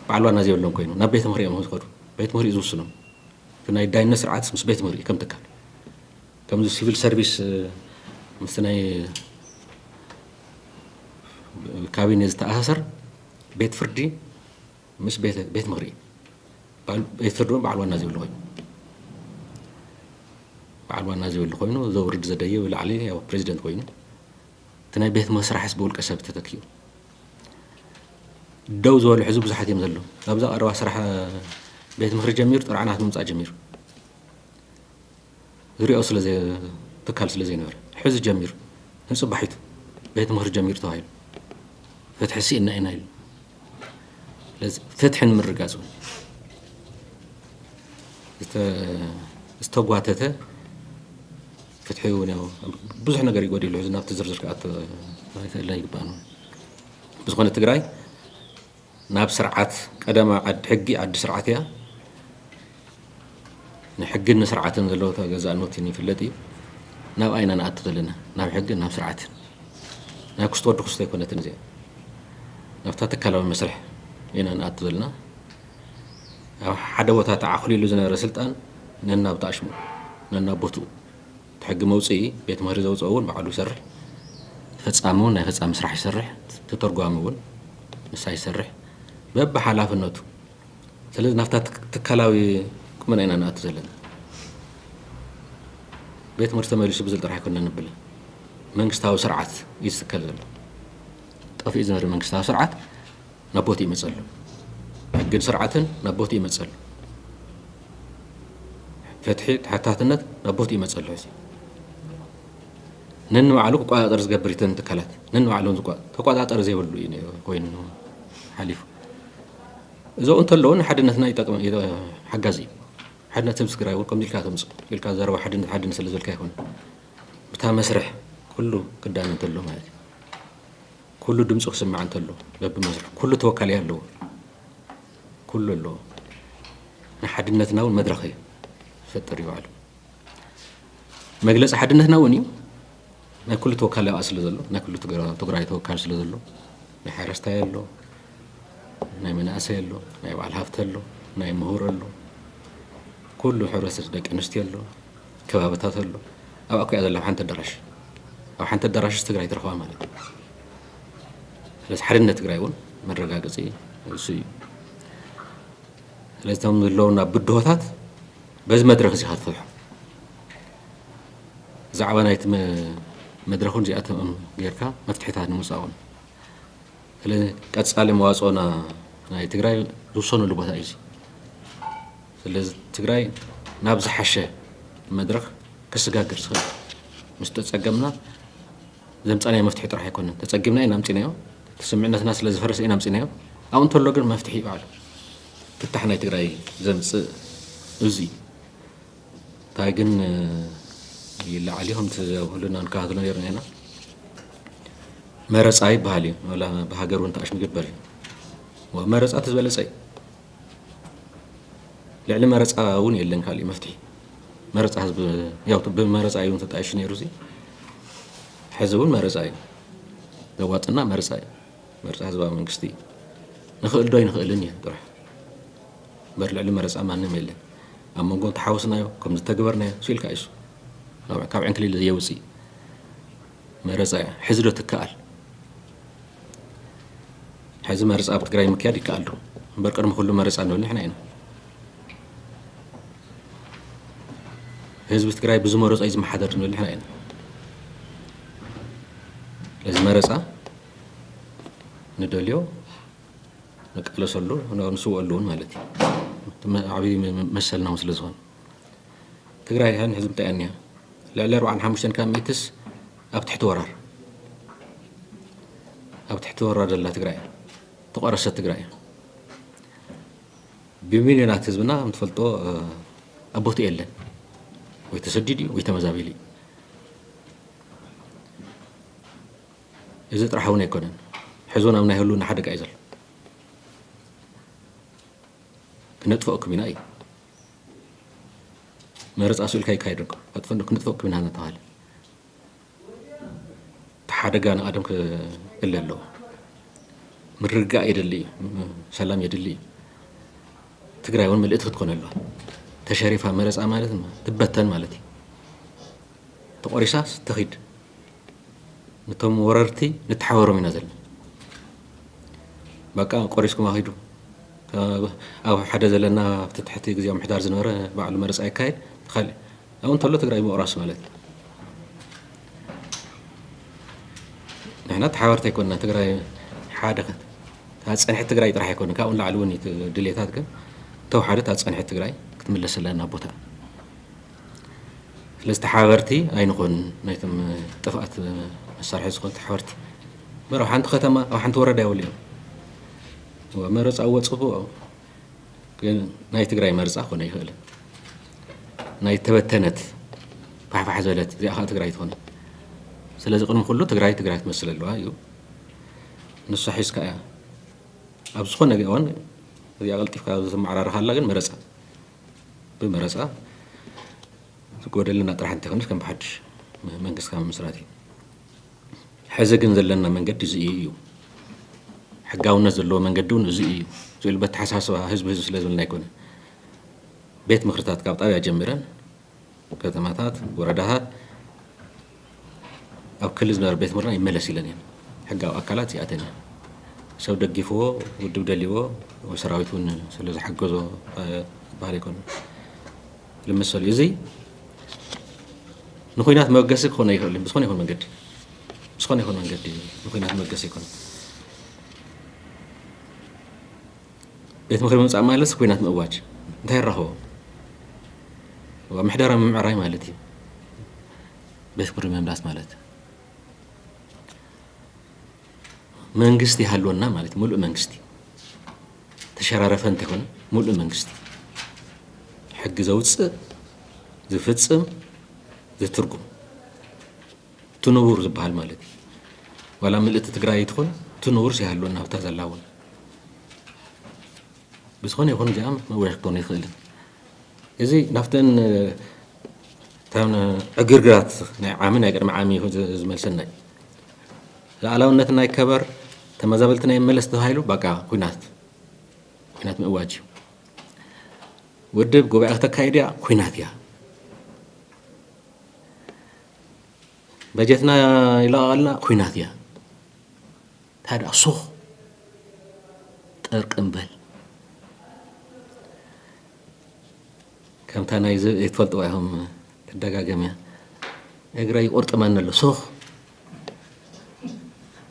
በዓል ዋና ዘይብሎም ኮይኑ ናብ ቤት ምኽሪ እዮም ዝኸዱ። ቤት ምኽሪ እዩ ዝውስኖም። እቲ ናይ ዳይነት ስርዓትስ ምስ ቤት ምኽሪ ከም ትካል ከምዚ ሲቪል ሰርቪስ ምስ ናይ ካቢኔ ዝተኣሳሰር ቤት ፍርዲ ምስ ቤት ቤት ምኽሪ ባል ቤት ፍርድ ውን በዓል ዋና ዘይብሉ ኮይኑ በዓል ዋና ዘይብሉ ኮይኑ ዘውርድ ዘደይ ብላዕሊ ያው ፕሬዚደንት ኮይኑ እቲ ናይ ቤት መስራሕስ ብውልቀ ሰብ ተተኪኡ ደው ዝበሉ ሕዚ ብዙሓት እዮም ዘለዉ ካብዛ ቀረባ ስራሕ ቤት ምኽሪ ጀሚሩ ጥርዓናት ምምፃእ ጀሚሩ ዝሪኦ ስለ ትካል ስለ ዘይነበረ ሕዚ ጀሚሩ ንፅባሒቱ ቤት ምኽሪ ጀሚሩ ተባሂሉ ፍትሒ ስኢና ኢና ኢሉ ስለዚ ፍትሒ ንምርጋፅ እውን ዝተጓተተ ፍትሒ እውን ያው ብዙሕ ነገር ይጎዲሉ ሕዚ ናብቲ ዝርዝር ክኣቶ ኣይክእልን ይግባእ ብዝኾነ ትግራይ ናብ ስርዓት ቀደማ ዓድ ሕጊ ዓዲ ስርዓት እያ። ንሕግን ንስርዓትን ዘለዎ ተገዛእኖት ይፍለጥ እዩ። ናብኣ ኢና ንኣቱ ዘለና ናብ ሕግን ናብ ስርዓትን ናብ ክስተ ወዲ ክስቶ ኣይኮነትን እዚኣ ናብታ ትካላዊ መስርሕ ኢና ንኣቱ ዘለና ኣብ ሓደ ቦታ ተዓኽሊሉ ዝነበረ ስልጣን ነናብ ጣሽሙ ነናብ ቦትኡ እቲ ሕጊ መውፅኢ ቤት ምህሪ ዘውፀኦ እውን ባዕሉ ይሰርሕ፣ እቲ ፈፃሚ እውን ናይ ፈፃሚ ስራሕ ይሰርሕ፣ እቲ ተተርጓሚ እውን ንሳ ይሰርሕ በብሓላፍነቱ። ስለዚ ናብታ ትካላዊ ቁመና ኢና ንኣቱ ዘለና። ቤት ምህርቲ ተመሊሱ ብዝል ጥራሕ ኣይኮንና ንብል። መንግስታዊ ስርዓት እዩ ዝትከል ዘሎ። ጠፊኡ ዝነበረ መንግስታዊ ስርዓት ናብ ቦትኡ ይመጽእ ኣሎ። ሕግን ስርዓትን ናብ ቦትኡ ይመጽእ ኣሎ። ፍትሒ፣ ተሓታትነት ናብ ቦትኡ ይመጽእ ኣሎ። ሕዚ ነንባዕሉ ክቆጻጸር ዝገብር እተን ትካላት ነንባዕሎም ተቆጻጸሪ ዘይብሉ እዩ ኮይኑ ሓሊፉ እዞ እንተለዉ ንሓድነትና ይጠቅም ሓጋዚ እዩ ሓድነት ህዝቢ ትግራይ እውን ከምዚ ኢልካ ተምፅ ኢልካ ዘረባ ሓድነት ሓድነት ስለ ዝበልካ ይኮነ ብታ መስርሕ ኩሉ ክዳነ እንተሎ ማለት እዩ ኩሉ ድምፁ ክስማዕ እንተሎ በብመስርሑ ኩሉ ተወካሊ ኣለዎ ኩሉ ኣለዎ ንሓድነትና እውን መድረኽ እዩ ዝፈጥር ይባዕሉ መግለፂ ሓድነትና እውን እዩ ናይ ኩሉ ተወካሊ ኣብኣ ስለ ዘሎ ናይ ኩሉ ትግራይ ተወካሊ ስለ ዘሎ ናይ ሓረስታይ ኣሎ ናይ መናእሰይ ኣሎ ናይ በዓል ሃፍቲ ኣሎ ናይ ምሁር ኣሎ ኩሉ ሕብረተሰብ ደቂ ኣንስትዮ ኣሎ ከባብታት ኣሎ ኣብ ኣኮያ ዘላ ሓንቲ ኣዳራሽ ኣብ ሓንቲ ኣዳራሽስ ትግራይ ትረኽባ ማለት እዩ ስለዚ ሓድነት ትግራይ እውን መረጋገፂ እሱ እዩ ስለዚ እቶም ዘለውና ብድሆታት በዚ መድረክ እዚ ክትፈትሖ ዛዕባ ናይቲ መድረኹን እዚኣቶም ጌርካ መፍትሒታት ንምውፃኡን ስለዚ ቀፃሊ መዋፅኦና ናይ ትግራይ ዝውሰነሉ ቦታ እዩ ስለዚ ትግራይ ናብ ዝሓሸ መድረኽ ከሰጋግር ዝኽእል ምስ ተፀገምና ዘምፃናዮ መፍትሒ ጥራሕ ኣይኮነን ተፀጊምና ኢና ኣምፂናዮ ስምዕነትና ስለ ዝፈረሰ ኢና ኣምፂናዮ ኣብኡ እንተሎ ግን መፍትሒ እዩ ባዕሉ ፍታሕ ናይ ትግራይ ዘምፅእ እዚ እንታይ ግን ይለዓል እዩ ከምቲ ኩልና ንከታተሎ ነርና ኢና መረፃ ይበሃል እዩ ብሃገር እውን ተኣሽምግበር እዩ መረፃ እቲ ዝበለፀ እዩ ልዕሊ መረፃ እውን የለን ካሊእ መፍትሒ መረፃ ህዝቢ ያው ብመረፃ እዩ ተጣይሹ ነይሩ እዚ ሕዚ እውን መረፃ እዩ ዘዋፅና መረፃ እዩ መረፃ ህዝባዊ መንግስቲ እዩ ንኽእል ዶ ኣይንኽእልን እዩ ጥራሕ እምበር ልዕሊ መረፃ ማንም የለን ኣብ መንጎ እንተሓወስናዮ ከም ዝተገበርናዮ ስኢልካ እዩ ካብ ዕንክሊል ዘየውፅእ መረፃ እያ ሕዚ ዶ ትከኣል ሕዚ መረፃ ኣብ ትግራይ ምክያድ ይከኣል ዶ እምበር ቅድሚ ኩሉ መረፃ ንብል ንሕና ኢና ህዝቢ ትግራይ ብዝመረፆ እዩ ዝመሓደር ንብል ንሕና ኢና ስለዚ መረፃ ንደልዮ ንቃለሰሉ ንስውኣሉ እውን ማለት እዩ ዓብዪ መሰልና እውን ስለ ዝኾነ ትግራይ ሕዚ እንታይ እያ ልዕሊ ኣርባዓን ሓሙሽተን ካብ ሚእትስ ኣብ ትሕቲ ወራር ኣብ ትሕቲ ወራር ዘላ ትግራይ እያ ተቋረሰት ትግራይ እያ ብሚልዮናት ህዝብና ምትፈልጦ ኣብ ቦትኡ የለን ወይ ተሰዲድ እዩ ወይ ተመዛቢሉ እዩ እዚ ጥራሕ እውን ኣይኮነን ሕዞን ኣብ ናይ ህልውና ሓደጋ እዩ ዘሎ ክነጥፍኦ ክሚና እዩ መረፃ ስእልካ ይካየድ ኣሎ ኣጥፈ ክንጥፈ ክብ ና ተባሃለ ሓደጋ ንቀደም ክእለ ኣለዎ ምርጋእ የድሊ እዩ ሰላም የድሊ እዩ ትግራይ እውን ምልእቲ ክትኮነ ኣለዋ ተሸሪፋ መረፃ ማለት ትበተን ማለት እዩ ተቆሪሳ ተኺድ ንቶም ወረርቲ ንተሓበሮም ኢና ዘለና በቃ ቆሪስኩም ኣኺዱ ኣብ ሓደ ዘለና ኣብቲ ትሕቲ ግዜ ምሕዳር ዝነበረ ባዕሉ መረፃ ይካየድ ትኸል ኣብኡ እንተሎ ትግራይ ምቑራስ ማለት ንሕና ተሓበርቲ ኣይኮንና ትግራይ ሓደ ታፀንሒ ትግራይ ጥራሕ ኣይኮነ ካብኡ ንላዕሊ እውን ድሌታት ግን ተውሓደ ታፀንሒ ትግራይ ክትምለስ ኣለና ቦታ ስለዚ ተሓባበርቲ ኣይንኾንን ናይቶም ጥፍኣት መሳርሒ ዝኾኑ ተሓባበርቲ መር ኣብ ሓንቲ ከተማ ኣብ ሓንቲ ወረዳ ይውልዮም መረፃ እዎ ፅቡቅ ግን ናይ ትግራይ መርፃ ኮነ ይኽእል ናይ ተበተነት ፋሕፋሕ ዘለት እዚኣ ከዓ ትግራይ ትኾነ ስለዚ ቅድሚ ኩሉ ትግራይ ትግራይ ትመስል ኣለዋ እዩ ንሱ ሒዝካ እያ ኣብ ዝኾነ እዋን እዚኣ ቀልጢፍካ ዘመዓራርኻ ኣላ ግን መረፃ ብመረፃ ዝጎደለና ጥራሕ እንተይኮነስ ከም ብሓዱሽ መንግስቲ ካብ ምምስራት እዩ። ሕዚ ግን ዘለና መንገዲ እዚ እዩ እዩ ሕጋውነት ዘለዎ መንገዲ እውን እዚ እዩ ዝብል በተሓሳስባ ህዝቢ ህዝቢ ስለ ዝብልና ኣይኮነን ቤት ምክርታት ካብ ጣብያ ጀሚረን ከተማታት ወረዳታት ኣብ ክሊ ዝነበረ ቤት ምርና ይመለስ ኢለን እየን ሕጋዊ ኣካላት እዚኣተን እየን ሰብ ደጊፍዎ ውድብ ደልዎ ሰራዊት እውን ስለዝሓገዞ ዝበሃል ኣይኮነ ልመሰሉ እዚ ንኩናት መበገሲ ክኾነ ይኽእል እዩ ብዝኾነ ይኹን መንገዲ ብዝኾነ ይኹን መንገዲ ንኩናት መበገሲ ይኮነ ቤት ምክሪ ምምፃእ ማለትስ ኩናት ምእዋጅ እንታይ ኣራኸቦ? ምሕደራ ምምዕራይ ማለት እዩ ቤት ምክሪ ምምላስ ማለት መንግስቲ ይሃልወና ማለት ሙሉእ መንግስቲ ተሸራረፈ እንተይኮነ ሙሉእ መንግስቲ ሕጊ ዘውፅእ ዝፍፅም ዝትርጉም ትንቡር ዝባሃል ማለት እዩ ዋላ ምልእቲ ትግራይ ትኹን ትንቡር ሲሃልወና ኣብታ ዘላ እውን ብዝኾነ ይኹን እዚኣ መወያ ክትኮኑ ይኽእልን እዚ ናብተን እተን ዕግርግራት ናይ ዓሚ ናይ ቅድሚ ዓሚ ዝመልሰና እዩ ሉዓላውነትና ይከበር ተመዛበልትና ይመለስ ተባሂሉ በቃ ኩናት ኩናት ምእዋጅ እዩ ውድብ ጉባኤ ክተካይድ እያ ኩናት እያ በጀትና ይለቐቐልና ኩናት እያ እንታይ ደኣ ሱኽ ጠርቅም በል ከምታ ናይ ትፈልጥዋ ኢኹም ትደጋገም እያ እግረ ይቁርጥመኒ ኣሎ ሱኽ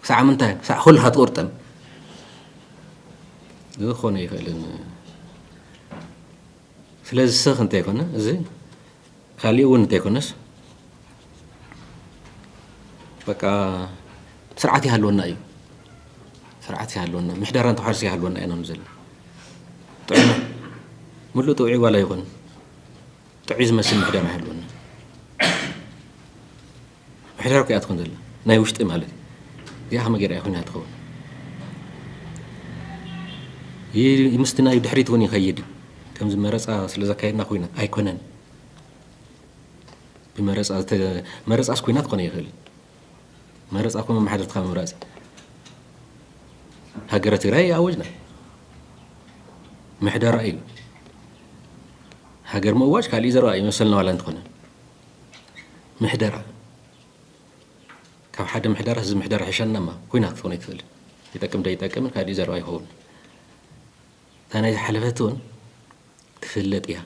ክሳዕ ምንታይ ክሳዕ ኩልካ ትቁርጥም ዝኾነ ይኽእልን ስለዚ ስኽ እንተይኮነ እዚ ካሊእ እውን እንተይኮነስ በቃ ስርዓት ይሃልወና እዩ ስርዓት ይሃልወና ምሕደራን ተሓርሲ ይሃልወና ኢና ንዘለ ጥዕና ምሉእ ጥውዒ ዋላ ይኹን ጥዑይ ዝመስል ምሕደራ ይሃልወና ምሕደራ እኮ እያ ትኾን ዘላ ናይ ውሽጢ ማለት እዩ እዚኣ ከመይ ገይራ እያ ኮይና ትኸውን ምስቲ ናይ ድሕሪት እውን ይኸይድ እዩ ከምዚ መረፃ ስለ ዘካየድና ኮይናት ኣይኮነን ብመረፃ መረፃስ ኮይናት ክኾነ ይኽእል መረፃ ኮ መማሓደርትካ ምምራፅ ሃገረ ትግራይ ኣወጅና ምሕደራ እዩ ሃገር ምእዋጅ ካልእ ዘረባ እዩ መሰልና ዋላ እንትኾነ ምሕደራ ካብ ሓደ ምሕደራ ህዝቢ ምሕደራ ሕሸና እማ ኩና ክትኾን ኣይትኽእልን ይጠቅም ዶ ይጠቅምን ካልእ ዘረባ ይኸውን እታ ናይ ዝሓለፈት እውን ትፍለጥ እያ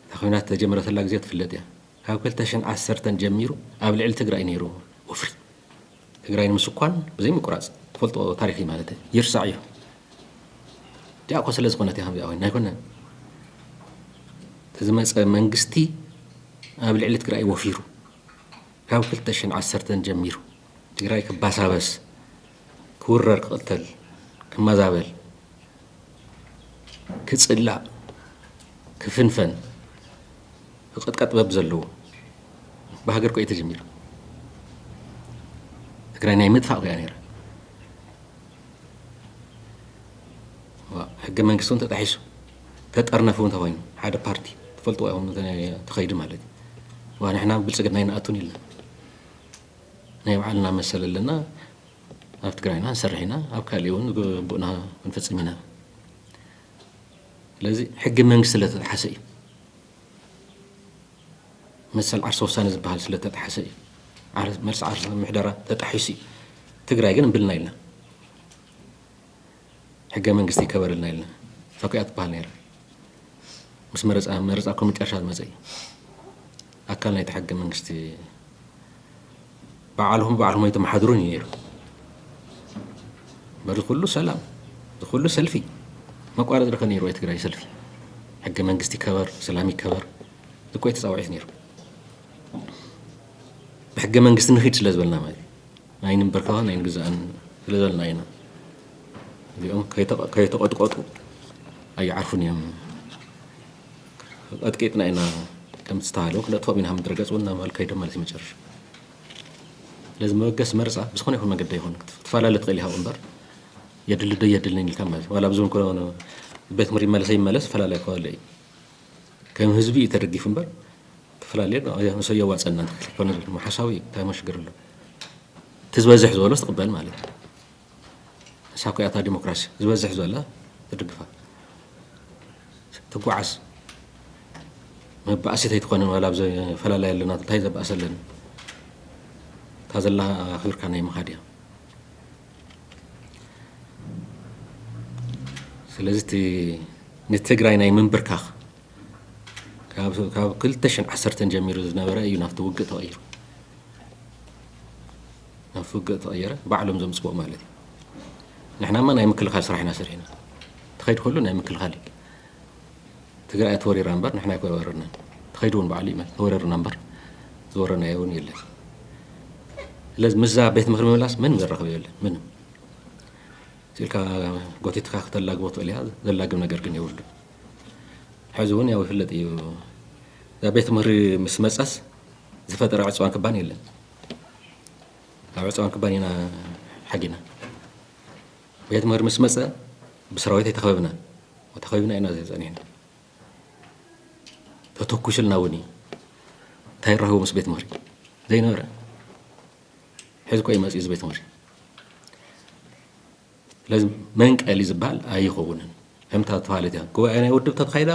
እታ ኩናት ተጀመረተላ ግዜ ትፍለጥ እያ ካብ ክልተ ሽን ዓሰርተን ጀሚሩ ኣብ ልዕሊ ትግራይ ነይሩ ወፍሪ ትግራይ ንምስኳን ብዘይ ምቁራፅ ትፈልጦ ታሪክ እዩ ማለት እዩ ይርሳዕ እዩ እዚኣ እኮ ስለ ዝኮነት ከምዚኣ ኮይና ኣይኮነን ዝመፀ መንግስቲ ኣብ ልዕሊ ትግራይ ወፊሩ ካብ 2ዓሰርተ ጀሚሩ ትግራይ ክባሳበስ ክውረር ክቕተል ክመዛበል ክጽላእ ክፍንፈን ክቕጥቀጥ በብ ዘለዎ ብሃገር ኮ ተጀሚሩ ትግራይ ናይ ምጥፋእ ኮያ ነይራ ሕገ መንግስቲ እውን ተጣሒሱ ተጠርነፍ እውን ተኮይኑ ሓደ ፓርቲ ትፈልጥዎ ይኹም ተኸይዱ ማለት እዩ ንሕና ብልፅግና ይንኣቱን ኢልና ናይ ባዕልና መሰል ኣለና ኣብ ትግራይና ንሰርሕ ኢና ኣብ ካሊእ እውን ግቡእና ክንፍፅም ኢና ስለዚ ሕጊ መንግስቲ ስለተጥሓሰ እዩ መሰል ዓርሰ ውሳነ ዝበሃል ስለተጥሓሰ እዩ መልሲ ዓርሰ ምሕደራ ተጣሒሱ እዩ ትግራይ ግን እምብልና ኢልና ሕገ መንግስቲ ይከበረልና ኢልና ተኪኣ ትበሃል ነይራ ምስ መረፃ መረፃ እኮ መጨረሻ ዝመፀ እዩ ኣካል ናይቲ ሕገ መንግስቲ ባዕልኹም ባዕልኹም ኣይተመሓድሩን እዩ ነይሩ በዚ ኩሉ ሰላም እዚ ኩሉ ሰልፊ መቋረፂ ርኸ ነይሩ ወይ ትግራይ ሰልፊ ሕገ መንግስቲ ይከበር ሰላም ይከበር እኮ ተፃዋዒት ነይሩ ብሕገ መንግስቲ ንኺድ ስለ ዝበልና ማለት እዩ ኣይንምበርከኽን ኣይንግዛእን ስለዘለና ኢና እዚኦም ከይተቐጥቀጡ ኣይዓርፉን እዮም ቀጥቂጥና ኢና ከምቲ ዝተባሃለ ክነጥፎም ኢና ምድረ ገፅ እውን ናባል ከይዶም ማለት እዩ መጨረሻ ስለዚ መበገሲ መርፃ ብዝኾነ ይኹን መገዲ ይኹን ክትፈላለ ትኽእል ይሃው እምበር የድሊ ዶ የድልንን ኢልካ ማለት ዋላ ብዙ ቤት ምሪ መለሰ ይመለስ ፈላለ ክበለ እዩ ከም ህዝቢ እዩ ተደጊፉ እምበር ክፍላለ ንሱ ኣየዋፀና ትክክል ኣይኮነ ዝብል እሞ ሓሳዊ እዩ እንታይ እሞ ሽግር ኣሎ እቲ ዝበዝሕ ዝበሎስ ትቕበል ማለት እዩ ንሳ እኮ እያታ ዲሞክራሲ ዝበዝሕ ዝበለ ትድግፋ ትጓዓዝ መባእሲት ኣይትኾነ ዋላ ኣብ ዘፈላለያ ኣለና እንታይ ዘባእሰለን እታ ዘላ ክብርካ ናይ ምኻድ እያ ስለዚ እቲ ንትግራይ ናይ ምንብርካኽ ካብ ካብ 2010 ጀሚሩ ዝነበረ እዩ ናብቲ ውግእ ተቐይሩ ናብቲ ውግእ ተቐየረ ባዕሎም ዘምፅዎ ማለት እዩ ንሕናማ ናይ ምክልኻል ስራሕ ኢና ሰሪሕና ተኸይድ ከሉ ናይ ምክልኻል እዩ ትግራይ እያ ተወሪራ እምበር ንሕና ኣይወረርናን ተኸይዱ እውን ባዕሉ ይመል ተወረርና እምበር ዝወረናዮ እውን የለን ስለዚ ምስዛ ቤት ምክሪ ምምላስ ምንም ዘራኽብ የለን ምንም ሲልካ ጎቲትካ ክተላግቦ ትኽእል እያ ዘላግብ ነገር ግን የብሉ ሕዚ እውን ያው ይፍለጥ እዩ እዛ ቤት ምክሪ ምስ መፀስ ዝፈጠረ ዕፅዋን ክባን የለን ካብ ዕፅዋን ክባን ኢና ሓጊና ቤት ምህር ምስ መጸ ብሰራዊተይ ተኸበብና ተኸቢብና ኢና ጸኒሕና ተተኩሱልና እውን እዩ እንታይ ይራኸቡ ምስ ቤት ምህሪ ዘይነበረ ሕዚ ኮይ መፅኡ ዝቤት ምሪ ስለዚ መንቀሊ ዝበሃል ኣይኸውንን ከምታ ተባሃለት እያ ጉባኤ ናይ ውድብ ተተካይዳ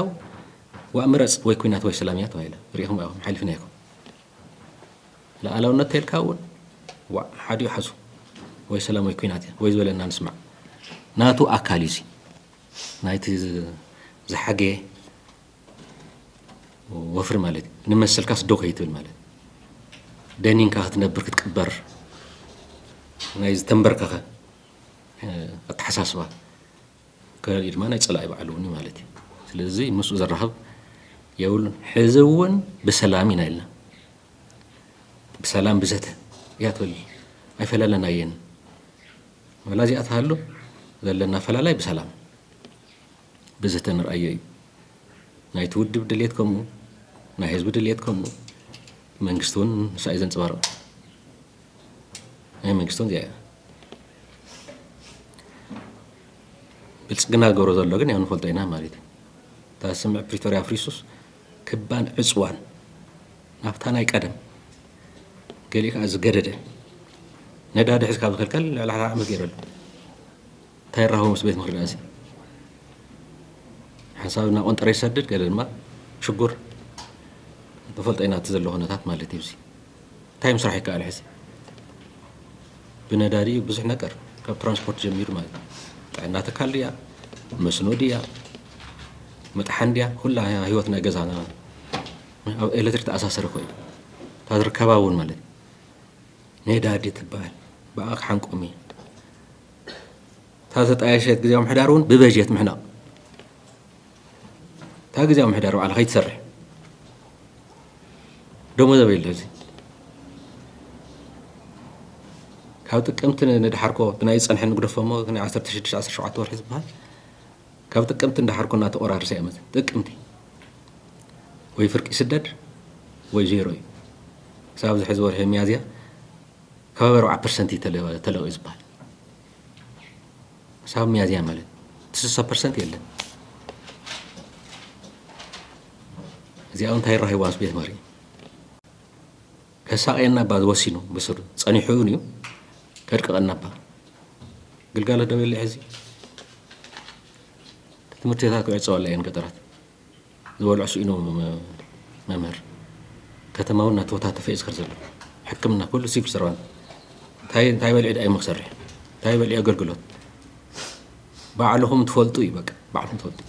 ዋ ምረፅ ወይ ኩናት ወይ ሰላም እያ ተባሂላ ሪኢኹም ኢኹም ሓሊፍና ኢኹም ልኣላውነት ተልካ እውን ዋዕ ሓዲኡ ሓዙ ወይ ሰላም ወይ ኩናት እያ ወይ ዝበለና ንስማዕ ናቱ ኣካል እዩ እዚ ናይቲ ዝሓገየ ወፍሪ ማለት እዩ ንመሰልካስ ዶ ከይትብል ማለት ደኒንካ ክትነብር ክትቅበር ናይ ዝተንበርከኸ ኣተሓሳስባ ከሊኡ ድማ ናይ ፀላኢ ባዕሉ እውን እዩ ማለት እዩ። ስለዚ ምስኡ ዘራኽብ የብሉን። ሕዚ እውን ብሰላም ኢና ኢልና ብሰላም ብዘተ እያ ትበል ኣይፈላለናየን ወላ እዚኣ ትሃሉ ዘለና ፈላላይ ብሰላም ብዘተ ንርኣዮ እዩ ናይቲ ውድብ ድሌት ከምኡ ናይ ህዝቢ ድሌት ከምኡ መንግስቲ እውን ንሳ እዩ ዘንፀባርቕ ናይ መንግስቲ እውን እዚኣ እያ ብልፅግና ዝገብሮ ዘሎ ግን ያው ንፈልጦ ኢና ማለት እዩ እታ ስምዕ ፕሪቶርያ ኣፍሪሱስ ክባን ዕፅዋን ናብታ ናይ ቀደም ገሊኡ ከዓ ዝገደደ ነዳዲ ሕዚ ካብ ዝኽልከል ልዕሊ ሓደ ዓመት ገይረሉ እንታይ ራኸቡ ምስ ቤት ምኽሪ ዳእሲ ሓንሳብ እና ቆንጠረ ይሰድድ ገለ ድማ ሽጉር ንፈልጦ ኢና እቲ ዘሎ ኩነታት ማለት እዩ እንታይ ምስራሕ ይከኣል ሕዚ ብነዳዲ እዩ ብዙሕ ነገር ካብ ትራንስፖርት ጀሚሩ ማለት እዩ ጥዕና ትካል ድያ መስኖ ድያ መጥሓን ድያ ኩላ ህይወት ናይ ገዛና ኣብ ኤሌክትሪክ ተኣሳሰረ ኮይኑ እታ ዝርከባ እውን ማለት ነዳዲ ትበሃል ብኣ ክሓንቆም እዩ እታ ዘጣየሸት ግዜ ምሕዳር እውን ብበጀት ምሕናቕ እታ ግዜያዊ ምሕደራ ባዕላ ከይትሰርሕ ደሞዝ ኣበይ ኣሎ እዚ ካብ ጥቅምቲ ንድሓርኮ ብናይ ፀንሐ ንግደፎሞ ናይ 16 17 ወርሒ ዝበሃል ካብ ጥቅምቲ ንድሓርኮ እናተቆራርሰ እያ መፅእ ጥቅምቲ ወይ ፍርቂ ስደድ ወይ ዜሮ እዩ ክሳብ ኣብዚ ሕዚ ወርሒ ሚያዝያ ከባቢ 4 ፐርሰንት እዩ ተለቂዩ ዝበሃል ክሳብ ሚያዝያ ማለት እቲ ስሳ ፐርሰንት የለን እዚኣ እንታይ ይራሂዋ ምስ ቤት መሪ ከሳቀየና ባ ዝወሲኑ ብስሩ ጸኒሑ እውን እዩ ከድቅቐና ባ ግልጋሎት ደው የለ ሕዚ ትምህርቲ ቤታት ክዕፀወላ እየን ገጠራት ዝበልዑ ስኢኖም መምህር ከተማ ውን ናተወታተፈ እዩ ዝከድ ዘሎ ሕክምና ኩሉ ሲቪል ሰርቫንት እንታይ እንታይ በልዒ ድኣ እሞ ክሰርሕ እንታይ በልዒ ኣገልግሎት ባዕልኹም ትፈልጡ እዩ በቃ ባዕልኹም ትፈልጡ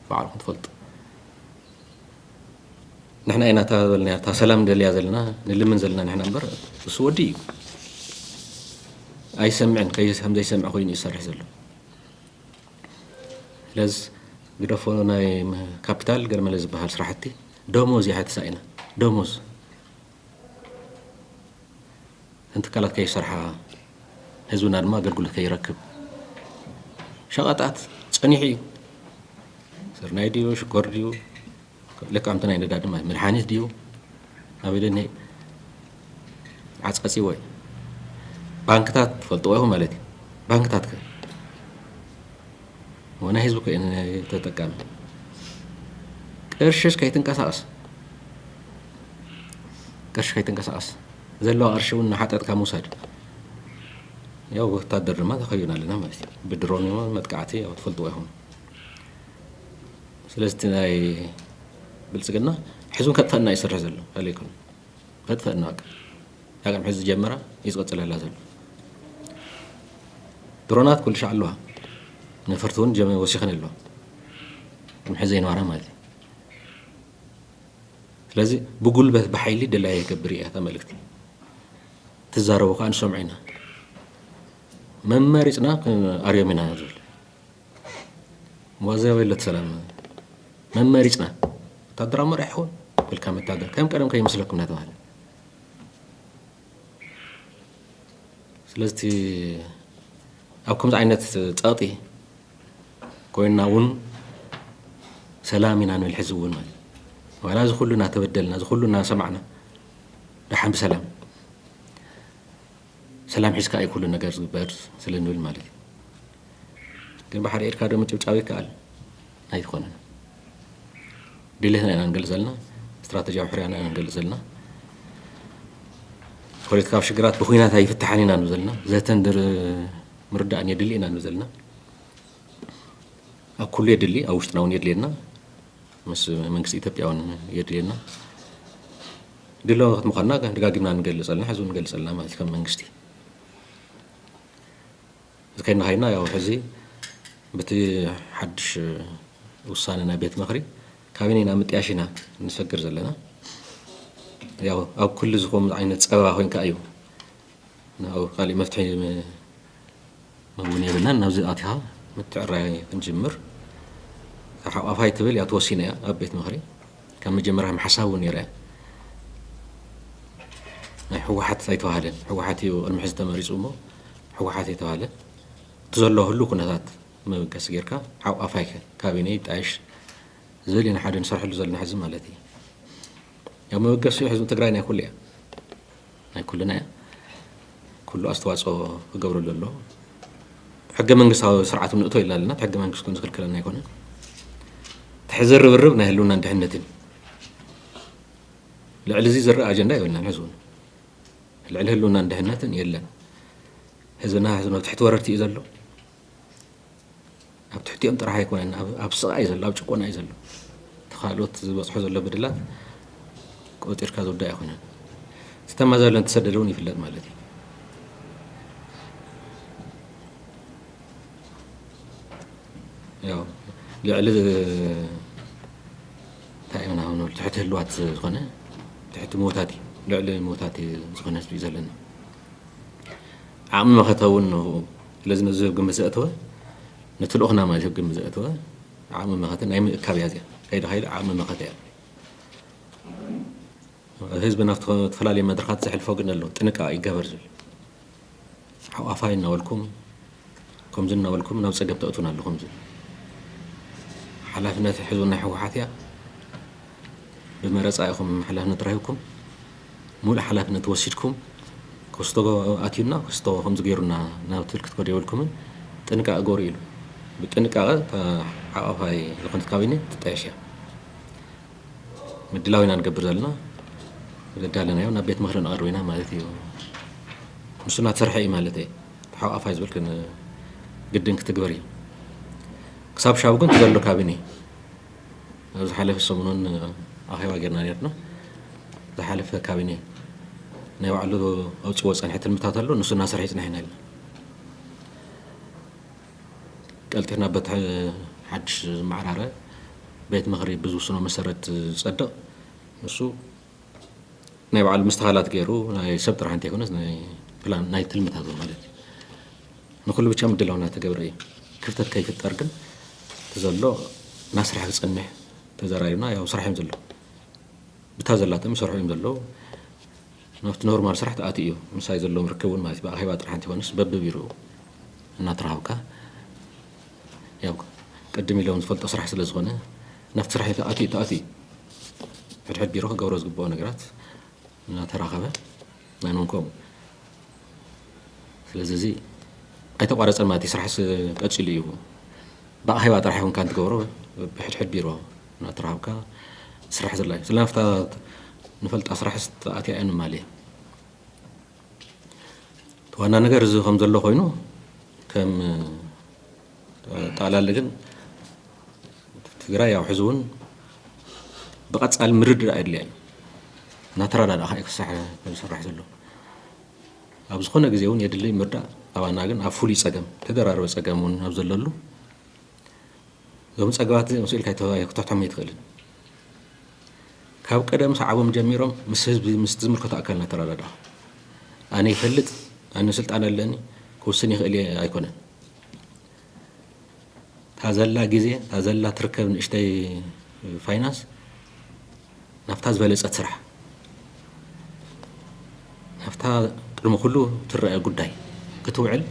ባዕልኹም ትፈልጡ ንሕና ኢና እታ በልና እታ ሰላም ደልያ ዘለና ንልምን ዘለና ንሕና እምበር እሱ ወዲ እዩ ኣይሰምዕን ከም ዘይሰምዕ ኮይኑ ይሰርሕ ዘሎ ለዝ ግደፎ ናይ ካፒታል ገለመለ ዝበሃል ስራሕቲ ደሞዝ እያ ተሳኢና ደሞዝ እተን ትካላት ከይሰርሓ ህዝብና ድማ ኣገልግሎት ከይረክብ ሸቐጣት ፀኒሑ እዩ ስርናይ ድዩ ሽኮር ድዩ ለቃምቲ ናይ ነዳዲ ማይ መድሓኒት ድዩ ኣቢለኒ ዓጽዓጺወ ባንክታት ትፈልጥዎ ኢኹም ማለት እዩ ባንክታት ከ ወናይ ህዝቢ ኮይኑ ተጠቃሚ ቅርሽስ ከይትንቀሳቐስ ቅርሺ ከይትንቀሳቐስ ዘለዋ ቅርሺ እውን ንሓጠጥካ ምውሳድ ያው ወታደር ድማ ተኸዩና ኣለና ማለት እዩ ብድሮን መጥቃዕቲ ያው ትፈልጥዎ ኢኹም ስለዚ እቲ ናይ ብልፅግና ሕዚ እውን ከጥፈእና እዩ ዝሰርሕ ዘሎ ካልእ ኣይኮነን ከጥፈእና በቃ ዳግም ሕዚ ዝጀመራ እዩ ዝቕፅለላ ዘሎ ድሮናት ኩሉ ሻዕ ኣለዋ ነፈርቲ እውን ጀመ ወሲኸን ኣለዋ ቅድሚ ሕዚ ዘይነበራ ማለት እዩ ስለዚ ብጉልበት ብሓይሊ ደላይ የገብር እያ እታ መልእክቲ ትዛረቡ ከዓ ንሰምዑ ኢና መመሪፅና ኣርዮም ኢና ዝብል ዋዘ ወይለት ሰላም መመሪጽና ወታደራዊ መራሒ ይኸውን ብልካ መታደር ከም ቀደም ከይመስለኩም እናተባህለ ስለዚ ኣብ ከምዚ ዓይነት ፀቕጢ ኮይና እውን ሰላም ኢና ንብል ሕዚ እውን ማለት ዋላ እዚ ኩሉ እናተበደልና እዚ ኩሉ እናሰማዕና ደሓን ብሰላም ሰላም ሒዝካ እዩ ኩሉ ነገር ዝግበር ስለ ንብል ማለት እዩ ግን ብሓደ ኢድካ ዶ ምጭብጫብ ይከኣል ኣይኮነን ድሌትና ኢና ንገልፅ ዘለና ስትራተጂያዊ ሕርያና ኢና ንገልፅ ዘለና ፖለቲካዊ ሽግራት ብኩናት ኣይፍትሓን ኢና ንብ ዘለና ዘተን ምርዳእን የድሊ ኢና ንብ ዘለና ኣብ ኩሉ የድሊ ኣብ ውሽጥና እውን የድልየና ምስ መንግስቲ ኢትዮጵያ እውን የድልየና ድልዋት ምዃንና ደጋጊምና ንገልፅ ኣለና፣ ሕዚ እውን ንገልፅ ኣለና ማለት እዩ ከም መንግስቲ። እዚ ከይና ከይና ያው ሕዚ በቲ ሓድሽ ውሳነ ናይ ቤት ምኽሪ ካቢነ ኢና ምጥያሽ ኢና ንሰግር ዘለና። ያው ኣብ ኩሉ ዝኾኑ ዓይነት ፀበባ ኮይንካ እዩ ናብ ካሊእ መፍትሒ እውን የብልናን ናብዚ ኣትኻ ምትዕራይ ክንጅምር ካብ ሓቋፋይ ትብል እያ ተወሲነ እያ ኣብ ቤት ምኽሪ ካብ መጀመርያ ሓሳብ እውን ነይረ ናይ ሕወሓት ኣይተባህለን ሕወሓት እዩ ቅድሚ ሕዚ ተመሪፁ እሞ ሕወሓት የተባህለ እቲ ዘሎ ህሉ ኩነታት መበገሲ ጌርካ ሓቋፋይ ካቢነ ይጣየሽ ዝብል ኢና ሓደ ንሰርሐሉ ዘለና ሕዚ ማለት እዩ ያው መበገሲ ሕዝቢ ትግራይ ናይ ኩሉ እያ ናይ ኩልና እያ ኩሉ ኣስተዋፅኦ ክገብረሉ ኣሎ ሕገ መንግስታዊ ስርዓት ንእቶ ኢልና ኣለና ሕገ መንግስት ግን ዝክልክለና ኣይኮነን ትሕዚ ርብርብ ናይ ህልውናን ድሕነትን ልዕሊ እዚ ዝረአ ኣጀንዳ የብልናን ሕዚ እውን ልዕሊ ህልውናን ድሕነትን የለን ህዝብና ህዝብ ትሕቲ ወረርቲ እዩ ዘሎ ኣብ ትሕቲኦም ጥራሕ ኣይኮነን ኣብ ስቓ እዩ ዘሎ ኣብ ጭቆና እዩ ዘሎ ተካልኦት ዝበፅሖ ዘሎ በደላት ቆፂርካ ዝውዳ ኣይኮነን ዝተማዘለ ተሰደደ እውን ይፍለጥ ማለት እዩ ያው ልዕሊ እንታይ ኢና ንብል ትሕቲ ህልዋት ዝኾነ ትሕቲ ሞታት እዩ ልዕሊ ሞታት ዝኾነ ህዝቢ እዩ ዘለና ዓቕሚ መኸተ እውን ስለዚ ነዚ ኣብ ግምት ዘእተወ ነቲ ልኡኽና ማለት ኣብ ግምት ዘእተወ ዓቕሚ መኸተ ናይ ምእካብ እያ እዚኣ ከይዲ ከይዲ ዓቕሚ መኸተ እያ ህዝቢ ናብ ዝተፈላለዩ መድረኻት ዘሕልፎ ግን ኣሎ ጥንቃ ይገበር ዝብል ሓቋፋይ እናበልኩም ከምዚ እናበልኩም ናብ ፀገብ ተእቱን ኣለኹም ዝብል ሓላፍነት ሕዝቢ ናይ ህወሓት እያ ብመረፃ ኢኹም ሓላፍነት ረሂብኩም ሙሉእ ሓላፍነት ወሲድኩም ኮስቶ ኣትዩና ኮስቶ ከምዚ ገይሩና ናብ ትብል ክትከዱ የብልኩምን ጥንቃቀ ግበሩ ኢሉ ብጥንቃቀ እታ ሓቋፋይ ዝኮነት ካቢኔ ትጣየሽ እያ ምድላው ኢና ንገብር ዘለና ዘዳለናዮ ናብ ቤት ምክሪ ነቅርብ ኢና ማለት እዩ ንሱ እናተሰርሐ እዩ ማለት እየ እቲ ሓቋፋይ ዝብል ግድን ክትግበር እዩ ክሳብ ሻቡ ግን ዘሎ ካቢኔ ኣብ ዝሓለፈ ሰሙን ኣኼባ ጌርና ኔርና። ዝሓለፈ ካቢኔ ናይ ባዕሉ ኣውፅዎ ዝፀንሐ ትልምታት ኣሎ ንሱ እናሰርሐ ይፅንሐ ኢና ኢልና ቀልጢፍና በቲ ሓድሽ ዝመዓራረ ቤት ምኽሪ ብዝውስኖ መሰረት ዝፀድቕ ንሱ ናይ ባዕሉ ምስትኻላት ገይሩ ናይ ሰብ ጥራሕ እንተይኮነስ ናይ ፕላን ናይ ትልምታት እውን ማለት እዩ ንኩሉ ብቻ ምድላው እናተገብረ እዩ ክፍተት ከይፍጠር ግን ዘሎ ናስራሕ ክፀንሕ ተዘራሪብና ያው ስራሕ እዮም ዘለዉ ብታ ዘላቶም ይሰርሑ እዮም ዘለዉ ናብቲ ኖርማል ስራሕ ተኣት እዩ ምሳይ ዘለዎም ርክብ እውን ማለት ብኣኼባ ጥራሕ እንተይኮነስ በብቢሩ እናተረሃብካ ያው ቅድም ኢሎም ዝፈልጦ ስራሕ ስለ ዝኾነ ናብቲ ስራሕ ተኣትዩ ተኣትዩ ሕድሕድ ቢሮ ክገብሮ ዝግብኦ ነገራት እናተራኸበ ናኖም ከምኡ ስለዚ እዚ ኣይተቋረፀን ማለት እዩ ስራሕስ ቀፂሉ እዩ ብኣኼባ ጥራሕ ይኹንካ እንትገብሮ ብሕድሕድ ቢሮ እናተራኸብካ ስራሕ ዘላ እዩ ስለ ናፍታ ንፈልጣ ስራሕስ ተኣትያ እያ ንማል እየ ዋና ነገር እዚ ከም ዘሎ ኮይኑ ከም ጠቕላሊ ግን ትግራይ ያው ሕዚ እውን ብቐፃሊ ምርድዳእ የድልያ እዩ እናተረዳዳእኻ እዩ ክሳሕ ዝስራሕ ዘሎ ኣብ ዝኾነ ግዜ እውን የድልይ ምርዳእ ኣባና ግን ኣብ ፍሉይ ፀገም ተደራረበ ፀገም እውን ኣብ ዘለሉ እዞም ፀገባት እዚኦም ስኢልካ ክተሕቶም ኣይትኽእልን ካብ ቀደም ሰዓቦም ጀሚሮም ምስ ህዝቢ ምስ ዝምልከቶ ኣካል እናተረዳዳእኻ ኣነ ይፈልጥ ኣነ ስልጣን ኣለኒ ክውስን ይኽእል እየ ኣይኮነን እታ ዘላ ግዜ እታ ዘላ ትርከብ ንእሽተይ ፋይናንስ ናብታ ዝበለፀት ስራሕ ናብታ ቅድሚ ኩሉ ትረኣ ጉዳይ ክትውዕል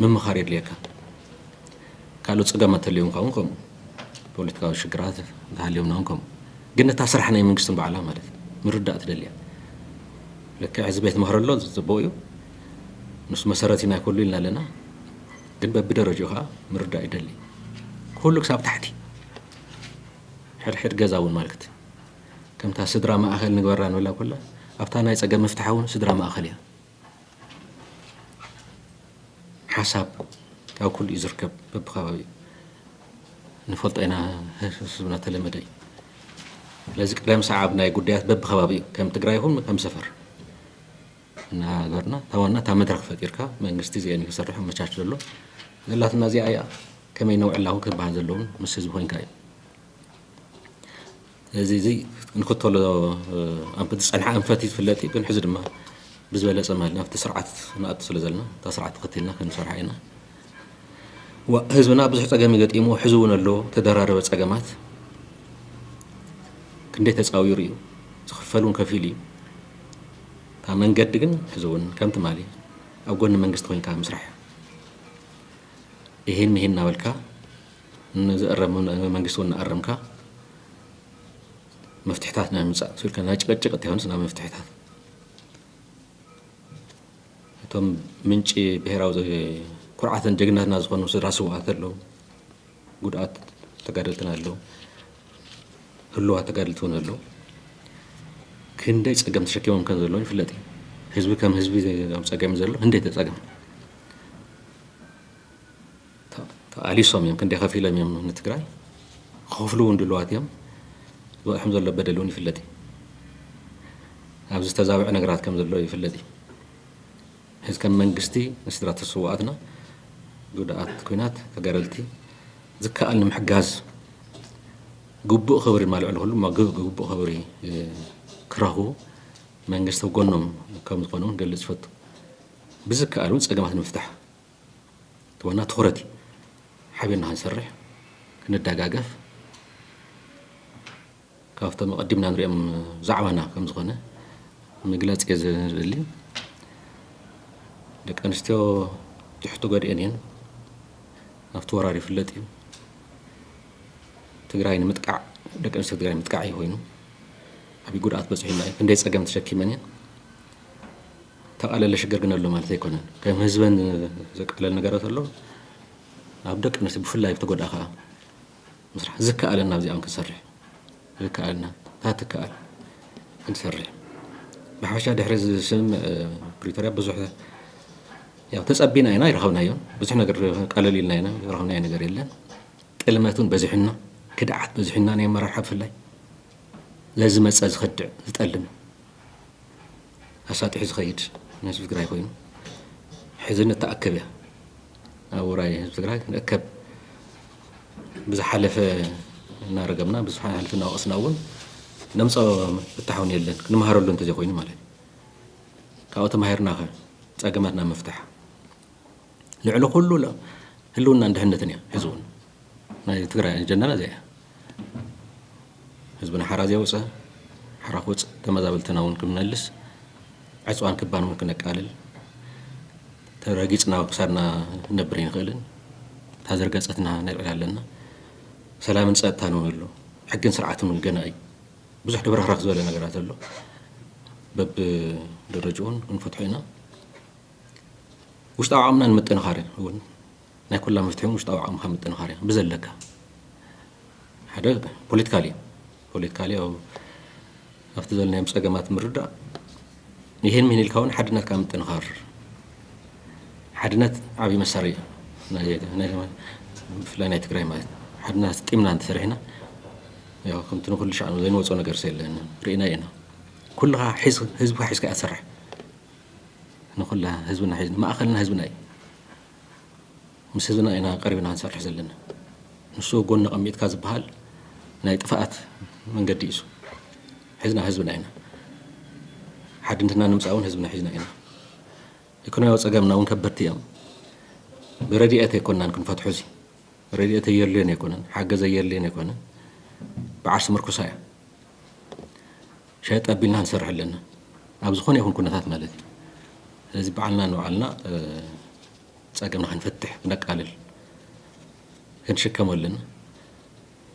ምምኻር የድልየካ ካልኦ ፀገማት ተልዮም ካውን ከምኡ ፖለቲካዊ ሽግራት ተሃልዮምና ውን ከምኡ ግን እታ ስራሕ ናይ መንግስትን ባዕላ ማለት ምርዳእ ትደልያ ልክዕ ህዝቢ ቤት መክረሎ ዝፅቡቅ እዩ ምስ መሰረት ኢና ኩሉ ኢልና ኣለና ግን በብደረጅኡ ከኣ ምርዳእ ይደሊ ኩሉ ክሳብ ታሕቲ ሕድሕድ ገዛ እውን ማልክት ከምታ ስድራ ማእኸል ንግበራ ንብላ ኩላ ኣብታ ናይ ፀገም መፍትሓ እውን ስድራ ማእኸል እያ ሓሳብ ካብ ኩሉ እዩ ዝርከብ በብከባቢኡ ንፈልጦ ኢና ህዝብና ተለመደ እዩ ስለዚ ቅደም ሰዓብ ናይ ጉዳያት በብከባቢኡ ከም ትግራይ ይኹን ከም ሰፈር እናሃገርና እታ ዋና እታ መድረኽ ፈጢርካ መንግስቲ እዚኤን እዩ ክሰርሕ ኣመቻች ዘሎ ዘላትና እዚኣ እያ ከመይ ነውዕላ እውን ክበሃል ዘለውን ምስ ህዝቢ ኮንካ እዩ እዚ እዚ ንክተሎ ኣብ ዝፀንሐ ኣንፈት እዩ ዝፍለጥ እዩ ግን ሕዚ ድማ ብዝበለፀ ማለት ናብቲ ስርዓት ንኣቱ ስለ ዘለና እታ ስርዓት ተኸቲልና ክንሰርሓ ኢና ዋእ ህዝብና ብዙሕ ፀገም እዩ ገጢምዎ ሕዚ እውን ኣሎ ተደራረበ ፀገማት ክንደይ ተፃዊሩ እዩ ዝኽፈል እውን ከፊሉ እዩ ካብ መንገዲ ግን ሕዚ እውን ከም ትማሊ ኣብ ጎኒ መንግስቲ ኮንካ ምስራሕ ይሄን ይሄን እናበልካ ንዝእረም መንግስቲ እውን እናኣረምካ መፍትሕታት ናይ ምምፃእ ስልካ ናይ ጭቅጭቅ እተይኮነስ ናይ መፍትሕታት እቶም ምንጪ ብሄራዊ ኩርዓትን ጀግንነትና ዝኾኑ ስድራ ስውኣት ኣለዉ፣ ጉድኣት ተጋደልትና ኣለዉ፣ ህሉዋት ተጋደልቲ እውን ኣለዉ። ክንደይ ፀገም ተሸኪሞም ከም ዘለዉ ይፍለጥ እዩ። ህዝቢ ከም ህዝቢ ኣብ ፀገም እዩ ዘሎ፣ ህንደይቲ ፀገም ተቃሊሶም እዮም ክንደይ ከፊሎም እዮም ንትግራይ ክኸፍሉ እውን ድልዋት እዮም ዝበፅሖም ዘሎ በደል እውን ይፍለጥ እዩ ኣብዚ ዝተዛብዐ ነገራት ከም ዘሎ ይፍለጥ እዩ ሕዚ ከም መንግስቲ ንስድራ ተስዋኣትና ጉድኣት ኩናት ተጋደልቲ ዝከኣል ንምሕጋዝ ግቡእ ክብሪ ማልዕሉ ኩሉ ግቡእ ክብሪ ክረኽቡ መንግስቲ ጎኖም ከም ዝኾኑ ገልፅ ይፈቱ ብዝከኣል እውን ፀገማት ንምፍታሕ እቲ ዋና ትኹረት እዩ። ሓቢርና ክንሰርሕ፣ ክንደጋገፍ ካብቶም ኣቐዲምና ንሪኦም ዛዕባና ከም ዝኾነ ምግላፅ እየ ዝደሊ። ደቂ ኣንስትዮ ትሕቲ ጎድኤን እየን። ኣብቲ ወራር ይፍለጥ እዩ። ትግራይ ንምጥቃዕ ደቂ ኣንስትዮ ትግራይ ምጥቃዕ እዩ ኮይኑ ዓብዪ ጉድኣት በፂሑና እዩ። ክንደይ ፀገም ተሸኪመን እየን። ተቃለለ ሽግር ግን ኣሎ ማለት ኣይኮነን ከም ህዝበን ዘቃለል ነገራት ኣሎ ኣብ ደቂ ኣንስትዮ ብፍላይ ኣብ ተጎድኣ ከዓ ምስራሕ ዝከኣለና ኣብዚኣን ክንሰርሕ ዝከኣልና እታ ትከኣል ክንሰርሕ ብሓፈሻ ድሕሪ ዝስም ፕሪቶሪያ ብዙሕ ያው ተፀቢና ኢና ይረኸብናዮን ብዙሕ ነገር ቀለል ኢልና ኢና ዝረኸብናዮ ነገር የለን ጥልመቱን በዚሑና ክድዓት በዚሑና ናይ ኣመራርሓ ብፍላይ ለዝመፀ ዝኸድዕ ዝጠልም ኣሳጢሑ ዝኸይድ ንህዝቢ ትግራይ ኮይኑ ሕዚ ንተኣከበ ኣብ ውራይ ህዝቢ ትግራይ ክንእከብ ብዝሓለፈ እናረገምና ብዝሓለፈ እናወቐስና እውን ነምፀኦ ፍታሕውን የለን ክንመሃረሉ እንተዘይኮይኑ ማለት እዩ ካብኡ ተማሂርና ከ ፀገማትና ምፍታሕ ልዕሊ ኩሉ ህልውናን ድሕነትን እያ ሕዚ እውን ናይ ትግራይ ኣጀንዳና እዚኣ እያ ህዝብና ሓራ ዘየውፀ ሓራ ክውፅ ተመዛበልትና እውን ክመልስ ዕፅዋን ክባን እውን ክነቃልል ተረጊፅና ክሳድና ነብር ይንኽእልን እታ ዝርገፀትና ነብዕል ኣለና ሰላምን ፀጥታን እውን ኣሎ ሕግን ስርዓትን እውን ገና እዩ ብዙሕ ድብረኽረኽ ዝበለ ነገራት ኣሎ በብደረጅኡን ክንፈትሖ ኢና ውሽጣዊ ዓቕምና ንምጥንኻር እዩ እውን ናይ ኩላ መፍትሒ እውን ውሽጣዊ ዓቕምካ ምጥንኻር እዩ ብዘለካ ሓደ ፖለቲካሊ እዩ ፖለቲካሊ ያው ኣብቲ ዘለናዮም ፀገማት ምርዳእ ይህን ምን ኢልካ እውን ሓድነትካ ምጥንኻር ሓድነት ዓብዪ መሳሪ እዩ ብፍላይ ናይ ትግራይ ማለት እዩ ሓድነት ጢምና እንተሰሪሕና ያው ከምቲ ንኩሉ ሻዕ ዘይንወፆ ነገር የለን ርኢና ኢና ኩልኻ ሒዝ ህዝብካ ሒዝካ እያ ትሰርሕ ንኩልና ህዝብና ሒዝና ማእኸልና ህዝብና እዩ። ምስ ህዝብና ኢና ቀሪብና ክንሰርሕ ዘለና። ንሱ ኣብ ጎኒ ኣቐሚጥካ ዝበሃል ናይ ጥፍኣት መንገዲ እዩ። ሒዝና ህዝብና ኢና። ሓድነትና ንምፃእ እውን ህዝብና ሒዝና ኢና። ኢኮኖሚያዊ ፀገምና እውን ከበድቲ እዮም። ብረድኤት ኣይኮናን ክንፈትሖ እዚ ረድኤት ኣየድልዮን ኣይኮነን ሓገዝ ኣየድልዮን ኣይኮነን በዓርሲ ምርኩሳ እያ ሸጥ ኣቢልና ንሰርሕ ኣለና ኣብ ዝኾነ ይኹን ኩነታት ማለት እዩ ስለዚ ባዓልና ንባዓልና ፀገምና ክንፈትሕ ክነቃልል ክንሽከሞ ኣለና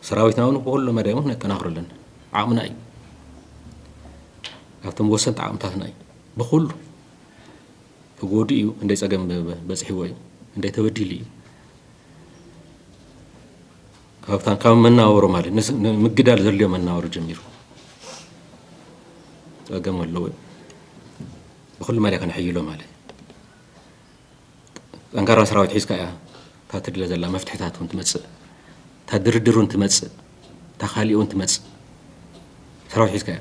ሰራዊትና እውን ብኩሉ መዳይ እውን ክነጠናኽሮ ኣለና ዓቕምና እዩ ካብቶም ወሰንቲ ዓቕምታትና እዩ ብኩሉ ተጎዱ እዩ እንደይ ፀገም በፅሕዎ እዩ እንደይ ተበዲሉ እዩ ካብታ ካብ መናወሮ ማለት ንስ- ንምግዳል ዘድልዮ መናወሮ ጀሚሩ ጸገም ኣለዎ ብኩሉ መዳይ ከነሕይሎ ማለት ጠንካራ ሰራዊት ሒዝካ እያ እታ ትድለ ዘላ መፍትሕታት እውን ትመጽእ እታ ድርድር እውን ትመጽእ እታ ካሊእ እውን ትመጽእ ሰራዊት ሒዝካ እያ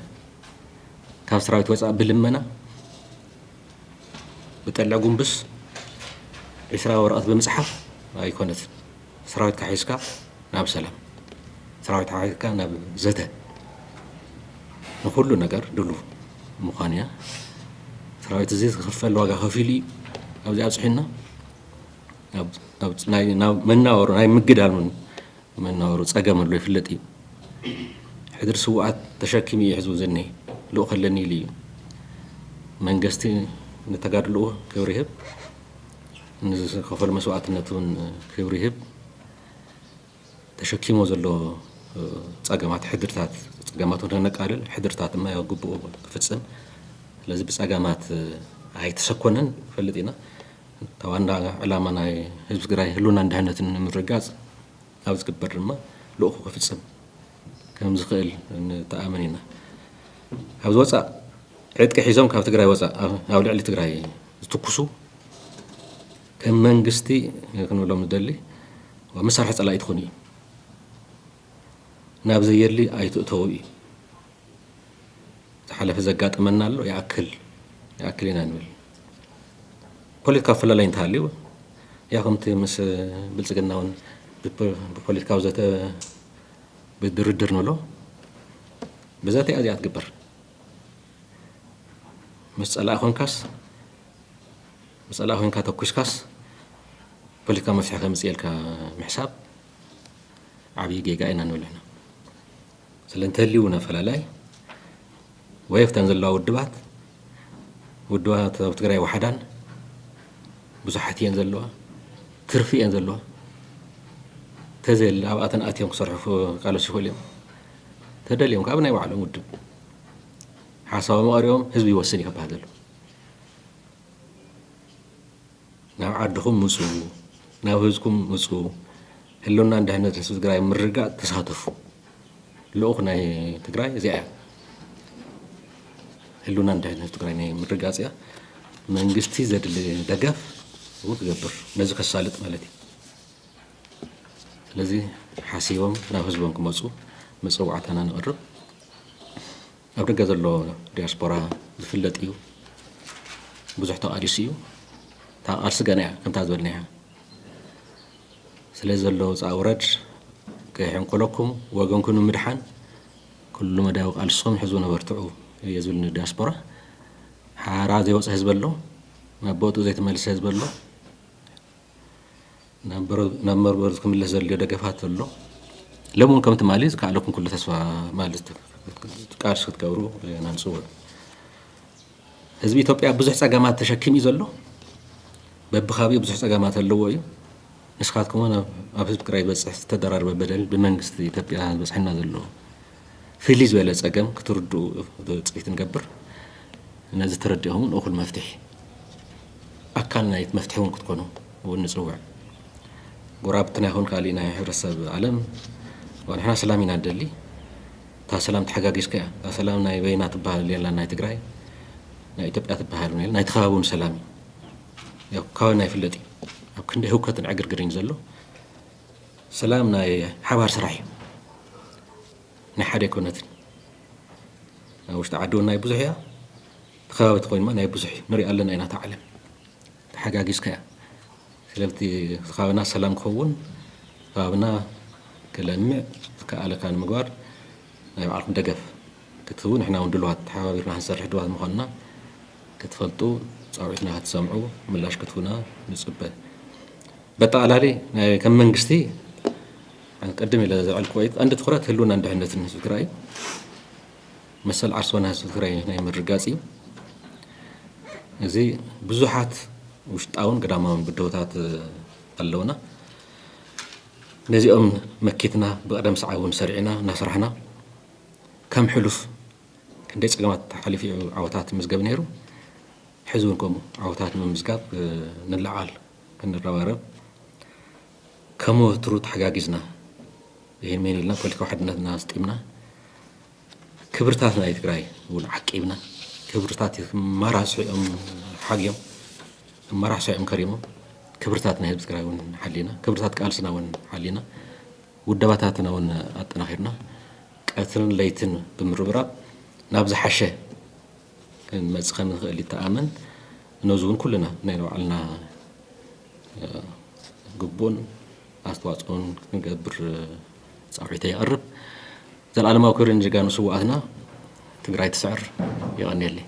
ካብ ሰራዊት ወፃእ ብልመና ብጠልዕ ጉንብስ ዒስራ ወረቐት ብምፅሓፍ ኣይኮነትን ሰራዊትካ ሒዝካ ናብ ሰላም ሰራዊትካ ሒዝካ ናብ ዘተ ንኩሉ ነገር ድሉው ምዃን እያ ሰራዊት እዚ ዝኽፈል ዋጋ ከፊሉ እዩ ኣብዚ ኣብፅሒና ናብ መናወሩ ናይ ምግዳል ውን መናወሩ ፀገም ኣሎ ይፍለጥ እዩ ሕድሪ ስዋኣት ተሸኪሙ እዩ ሕዝቡ ዝኒሀ ልኡ ከለኒ ኢሉ እዩ መንግስቲ ንተጋድልኡ ክብሪ ይህብ ንዝተኸፈሉ መስዋእትነት እውን ክብሪ ይህብ። ተሸኪሞ ዘሎ ፀገማት ሕድርታት ፀገማት እውን ከነቃልል ሕድርታት ድማ ያው ግብኡ ክፍፅም ስለዚ ብፀገማት ኣይተሰኮነን ንፈልጥ ኢና። ዋና ዕላማ ናይ ህዝቢ ትግራይ ህልውናን ድሕነትን ንምርግጋፅ ኣብ ዝግበር ድማ ልኡኹ ክፍፅም ከምዝኽእል ንተኣምን ኢና። ኣብዚ ወፃእ ዕጥቂ ሒዞም ካብ ትግራይ ወፃእ ኣብ ልዕሊ ትግራይ ዝትኩሱ ከም መንግስቲ ክንብሎም ንደሊ መሳርሒ ፀላኢ ትኾኑ እዩ ናብ ዘየድሊ ኣይትእተዉ እዩ። ዝሓለፈ ዘጋጠመና ኣሎ ይኣክል ይኣክል ኢና ንብል ፖለቲካዊ ፍለላይ እንተሃልዩ ያው ከምቲ ምስ ብልፅግና እውን ብፖለቲካዊ ዘተ ብድርድር ንብሎ ብዘተ እያ እዚኣ ትግበር ምስ ፀላኢ ኮንካስ ምስ ፀላኢ ኮንካ ተኩስካስ ፖለቲካ መፍትሒ ከምፅእ ኢልካ ምሕሳብ ዓብዪ ጌጋ ኢና ንብል ስለ እንተልዩ እውን ኣፈላላይ ወይ ኣብተን ዘለዋ ውድባት ውድባት ኣብ ትግራይ ዋሓዳን ብዙሓት እየን ዘለዋ ትርፊ እየን ዘለዋ ተዘየለ ኣብኣተን ኣትዮም ክሰርሑ ቃለሱ ይኽእሉ እዮም ተደልዮም ካብ ናይ ባዕሎም ውድብ ሓሳቦም ኣቕሪቦም ህዝቢ ይወስን እዩ ክበሃል ዘሎ ናብ ዓድኹም ምፁ ናብ ህዝኩም ምፁ ህልውናን ድሕነትን ህዝቢ ትግራይ ምርግጋፅ ተሳተፉ ልኡኽ ናይ ትግራይ እዚኣ እያ ህልውናን ድሕነት ህዝቢ ትግራይ ናይ ምርግጋፅ እያ መንግስቲ ዘድሊ ደገፍ እውን ክገብር ነዚ ከሳልጥ ማለት እዩ ስለዚ ሓሲቦም ናብ ህዝቦም ክመፁ መፀዋዕታና ንቕርብ ኣብ ደገ ዘሎ ዲያስፖራ ዝፍለጥ እዩ ብዙሕ ተቓሊሱ እዩ እታ ቃልሲ ገና እያ ከምታ ዝበልናያ ስለ ዘሎ ውፃእ ውረድ ከይሕንቁለኩም ወገንኩም ንምድሓን ኩሉ መዳያዊ ቃልስኹም ሕዝቡ ነበርትዑ እየ ዝብል ንዲያስፖራ ሓራ ዘይወፀ ህዝቢ ኣሎ ናብ ቦትኡ ዘይተመልሰ ህዝቢ ኣሎ ናብ መርበብ ክምለስ ዘድልዮ ደገፋት ኣሎ ሎም እውን ከም ትማሊ ዝከኣለኩም ኩሉ ተስፋ ማለት ቃልሲ ክትገብሩ ኢና ንፅውዕ ህዝቢ ኢትዮጵያ ብዙሕ ፀገማት ተሸኪም እዩ ዘሎ በብካብኡ ብዙሕ ፀገማት ኣለዎ እዩ ንስኻትኩም እውን ኣብ ህዝቢ ትግራይ ዝበፅሕ ዝተደራረበ በደል ብመንግስቲ ኢትዮጵያ ዝበፅሐና ዘሎ ፍልይ ዝበለ ጸገም ክትርድኡ ትጽቢት ንገብር። ነዚ ተረዲእኹም እውን እኹል መፍትሒ ኣካል ናይቲ መፍትሒ እውን ክትኮኑ እውን ንጽውዕ። ጎረባብትና ይኹን ካልእ ናይ ሕብረተሰብ ዓለም ንሕና ሰላም ኢና ንደሊ። እታ ሰላም ተሓጋጊዝካ እያ። እታ ሰላም ናይ በይና ትበሃል የላን ናይ ትግራይ ናይ ኢትዮጵያ ትበሃል እውን የለን። ናይቲ ከባቢ እውን ሰላም እዩ። ያው ካባና ይፍለጥ እዩ ኣብ ክንደይ ህውከትን ዕግርግርን እዩ ዘሎ። ሰላም ናይ ሓባር ስራሕ እዩ ናይ ሓደ ኣይኮነትን ኣብ ውሽጢ ዓዲ እውን ናይ ብዙሕ እያ እቲ ከባቢ ተኮይኑ ናይ ብዙሕ እዩ ንሪኣ ኣለና ኢና እታ ዓለም ተሓጋጊዝካ እያ ስለዚ እቲ ከባቢና ሰላም ክኸውን ከባቢና ክለምዕ ዝከኣለካ ንምግባር ናይ ባዕልኩም ደገፍ ክትህቡ ንሕና እውን ድልዋት ተሓባቢርና ክንሰርሕ ድልዋት ምኳንና ክትፈልጡ ፃውዒትና ክትሰምዑ ምላሽ ክትህቡና ንፅበ በጠቓላሊ ከም መንግስቲ ቅድም ኢለ ዘዕልክዎ እዩ ቀንዲ ትኩረት ህልውናን ድሕነትን ህዝቢ ትግራይ እዩ መሰል ዓርሶና ህዝቢ ትግራይ ናይ ምርጋፅ እዩ እዚ ብዙሓት ውሽጣውን ግዳማውን ብድሆታት ኣለውና ነዚኦም መኪትና ብቕደም ሰዓብ እውን ሰሪዕና እናሰራሕና ከም ሕሉፍ ክንደይ ፀገማት ሓሊፉ እዩ ዓወታት ምዝገብ ነይሩ ሕዚ እውን ከምኡ ዓወታት ንምምዝጋብ ንለዓል ክንረባረብ ከም ወትሩ ተሓጋጊዝና ይህን ምሂን ኢልና ፖለቲካዊ ሓድነትና ኣስጢምና ክብርታት ናይ ትግራይ እውን ዓቂብና ክብርታት ክመራስሑ እዮም ሓግዮም ክመራሕሱ እዮም ከሪሞም ክብርታት ናይ ህዝቢ ትግራይ እውን ሓሊና ክብርታት ቃልስና እውን ሓሊና ውደባታትና እውን ኣጠናኺርና ቀትርን ለይትን ብምርብራብ ናብ ዝሓሸ ክንመጽ ከምንክእል ይተኣመን ነዚ ውን ኩልና ናይ ባዕልና ግቡእን ኣስተዋጽኦን ክንገብር ጻውዒተይ የቕርብ። ዘልኣለማዊ ክብሪ ንጀጋኑ ስውኣትና። ትግራይ ትስዕር። የቐንየለይ።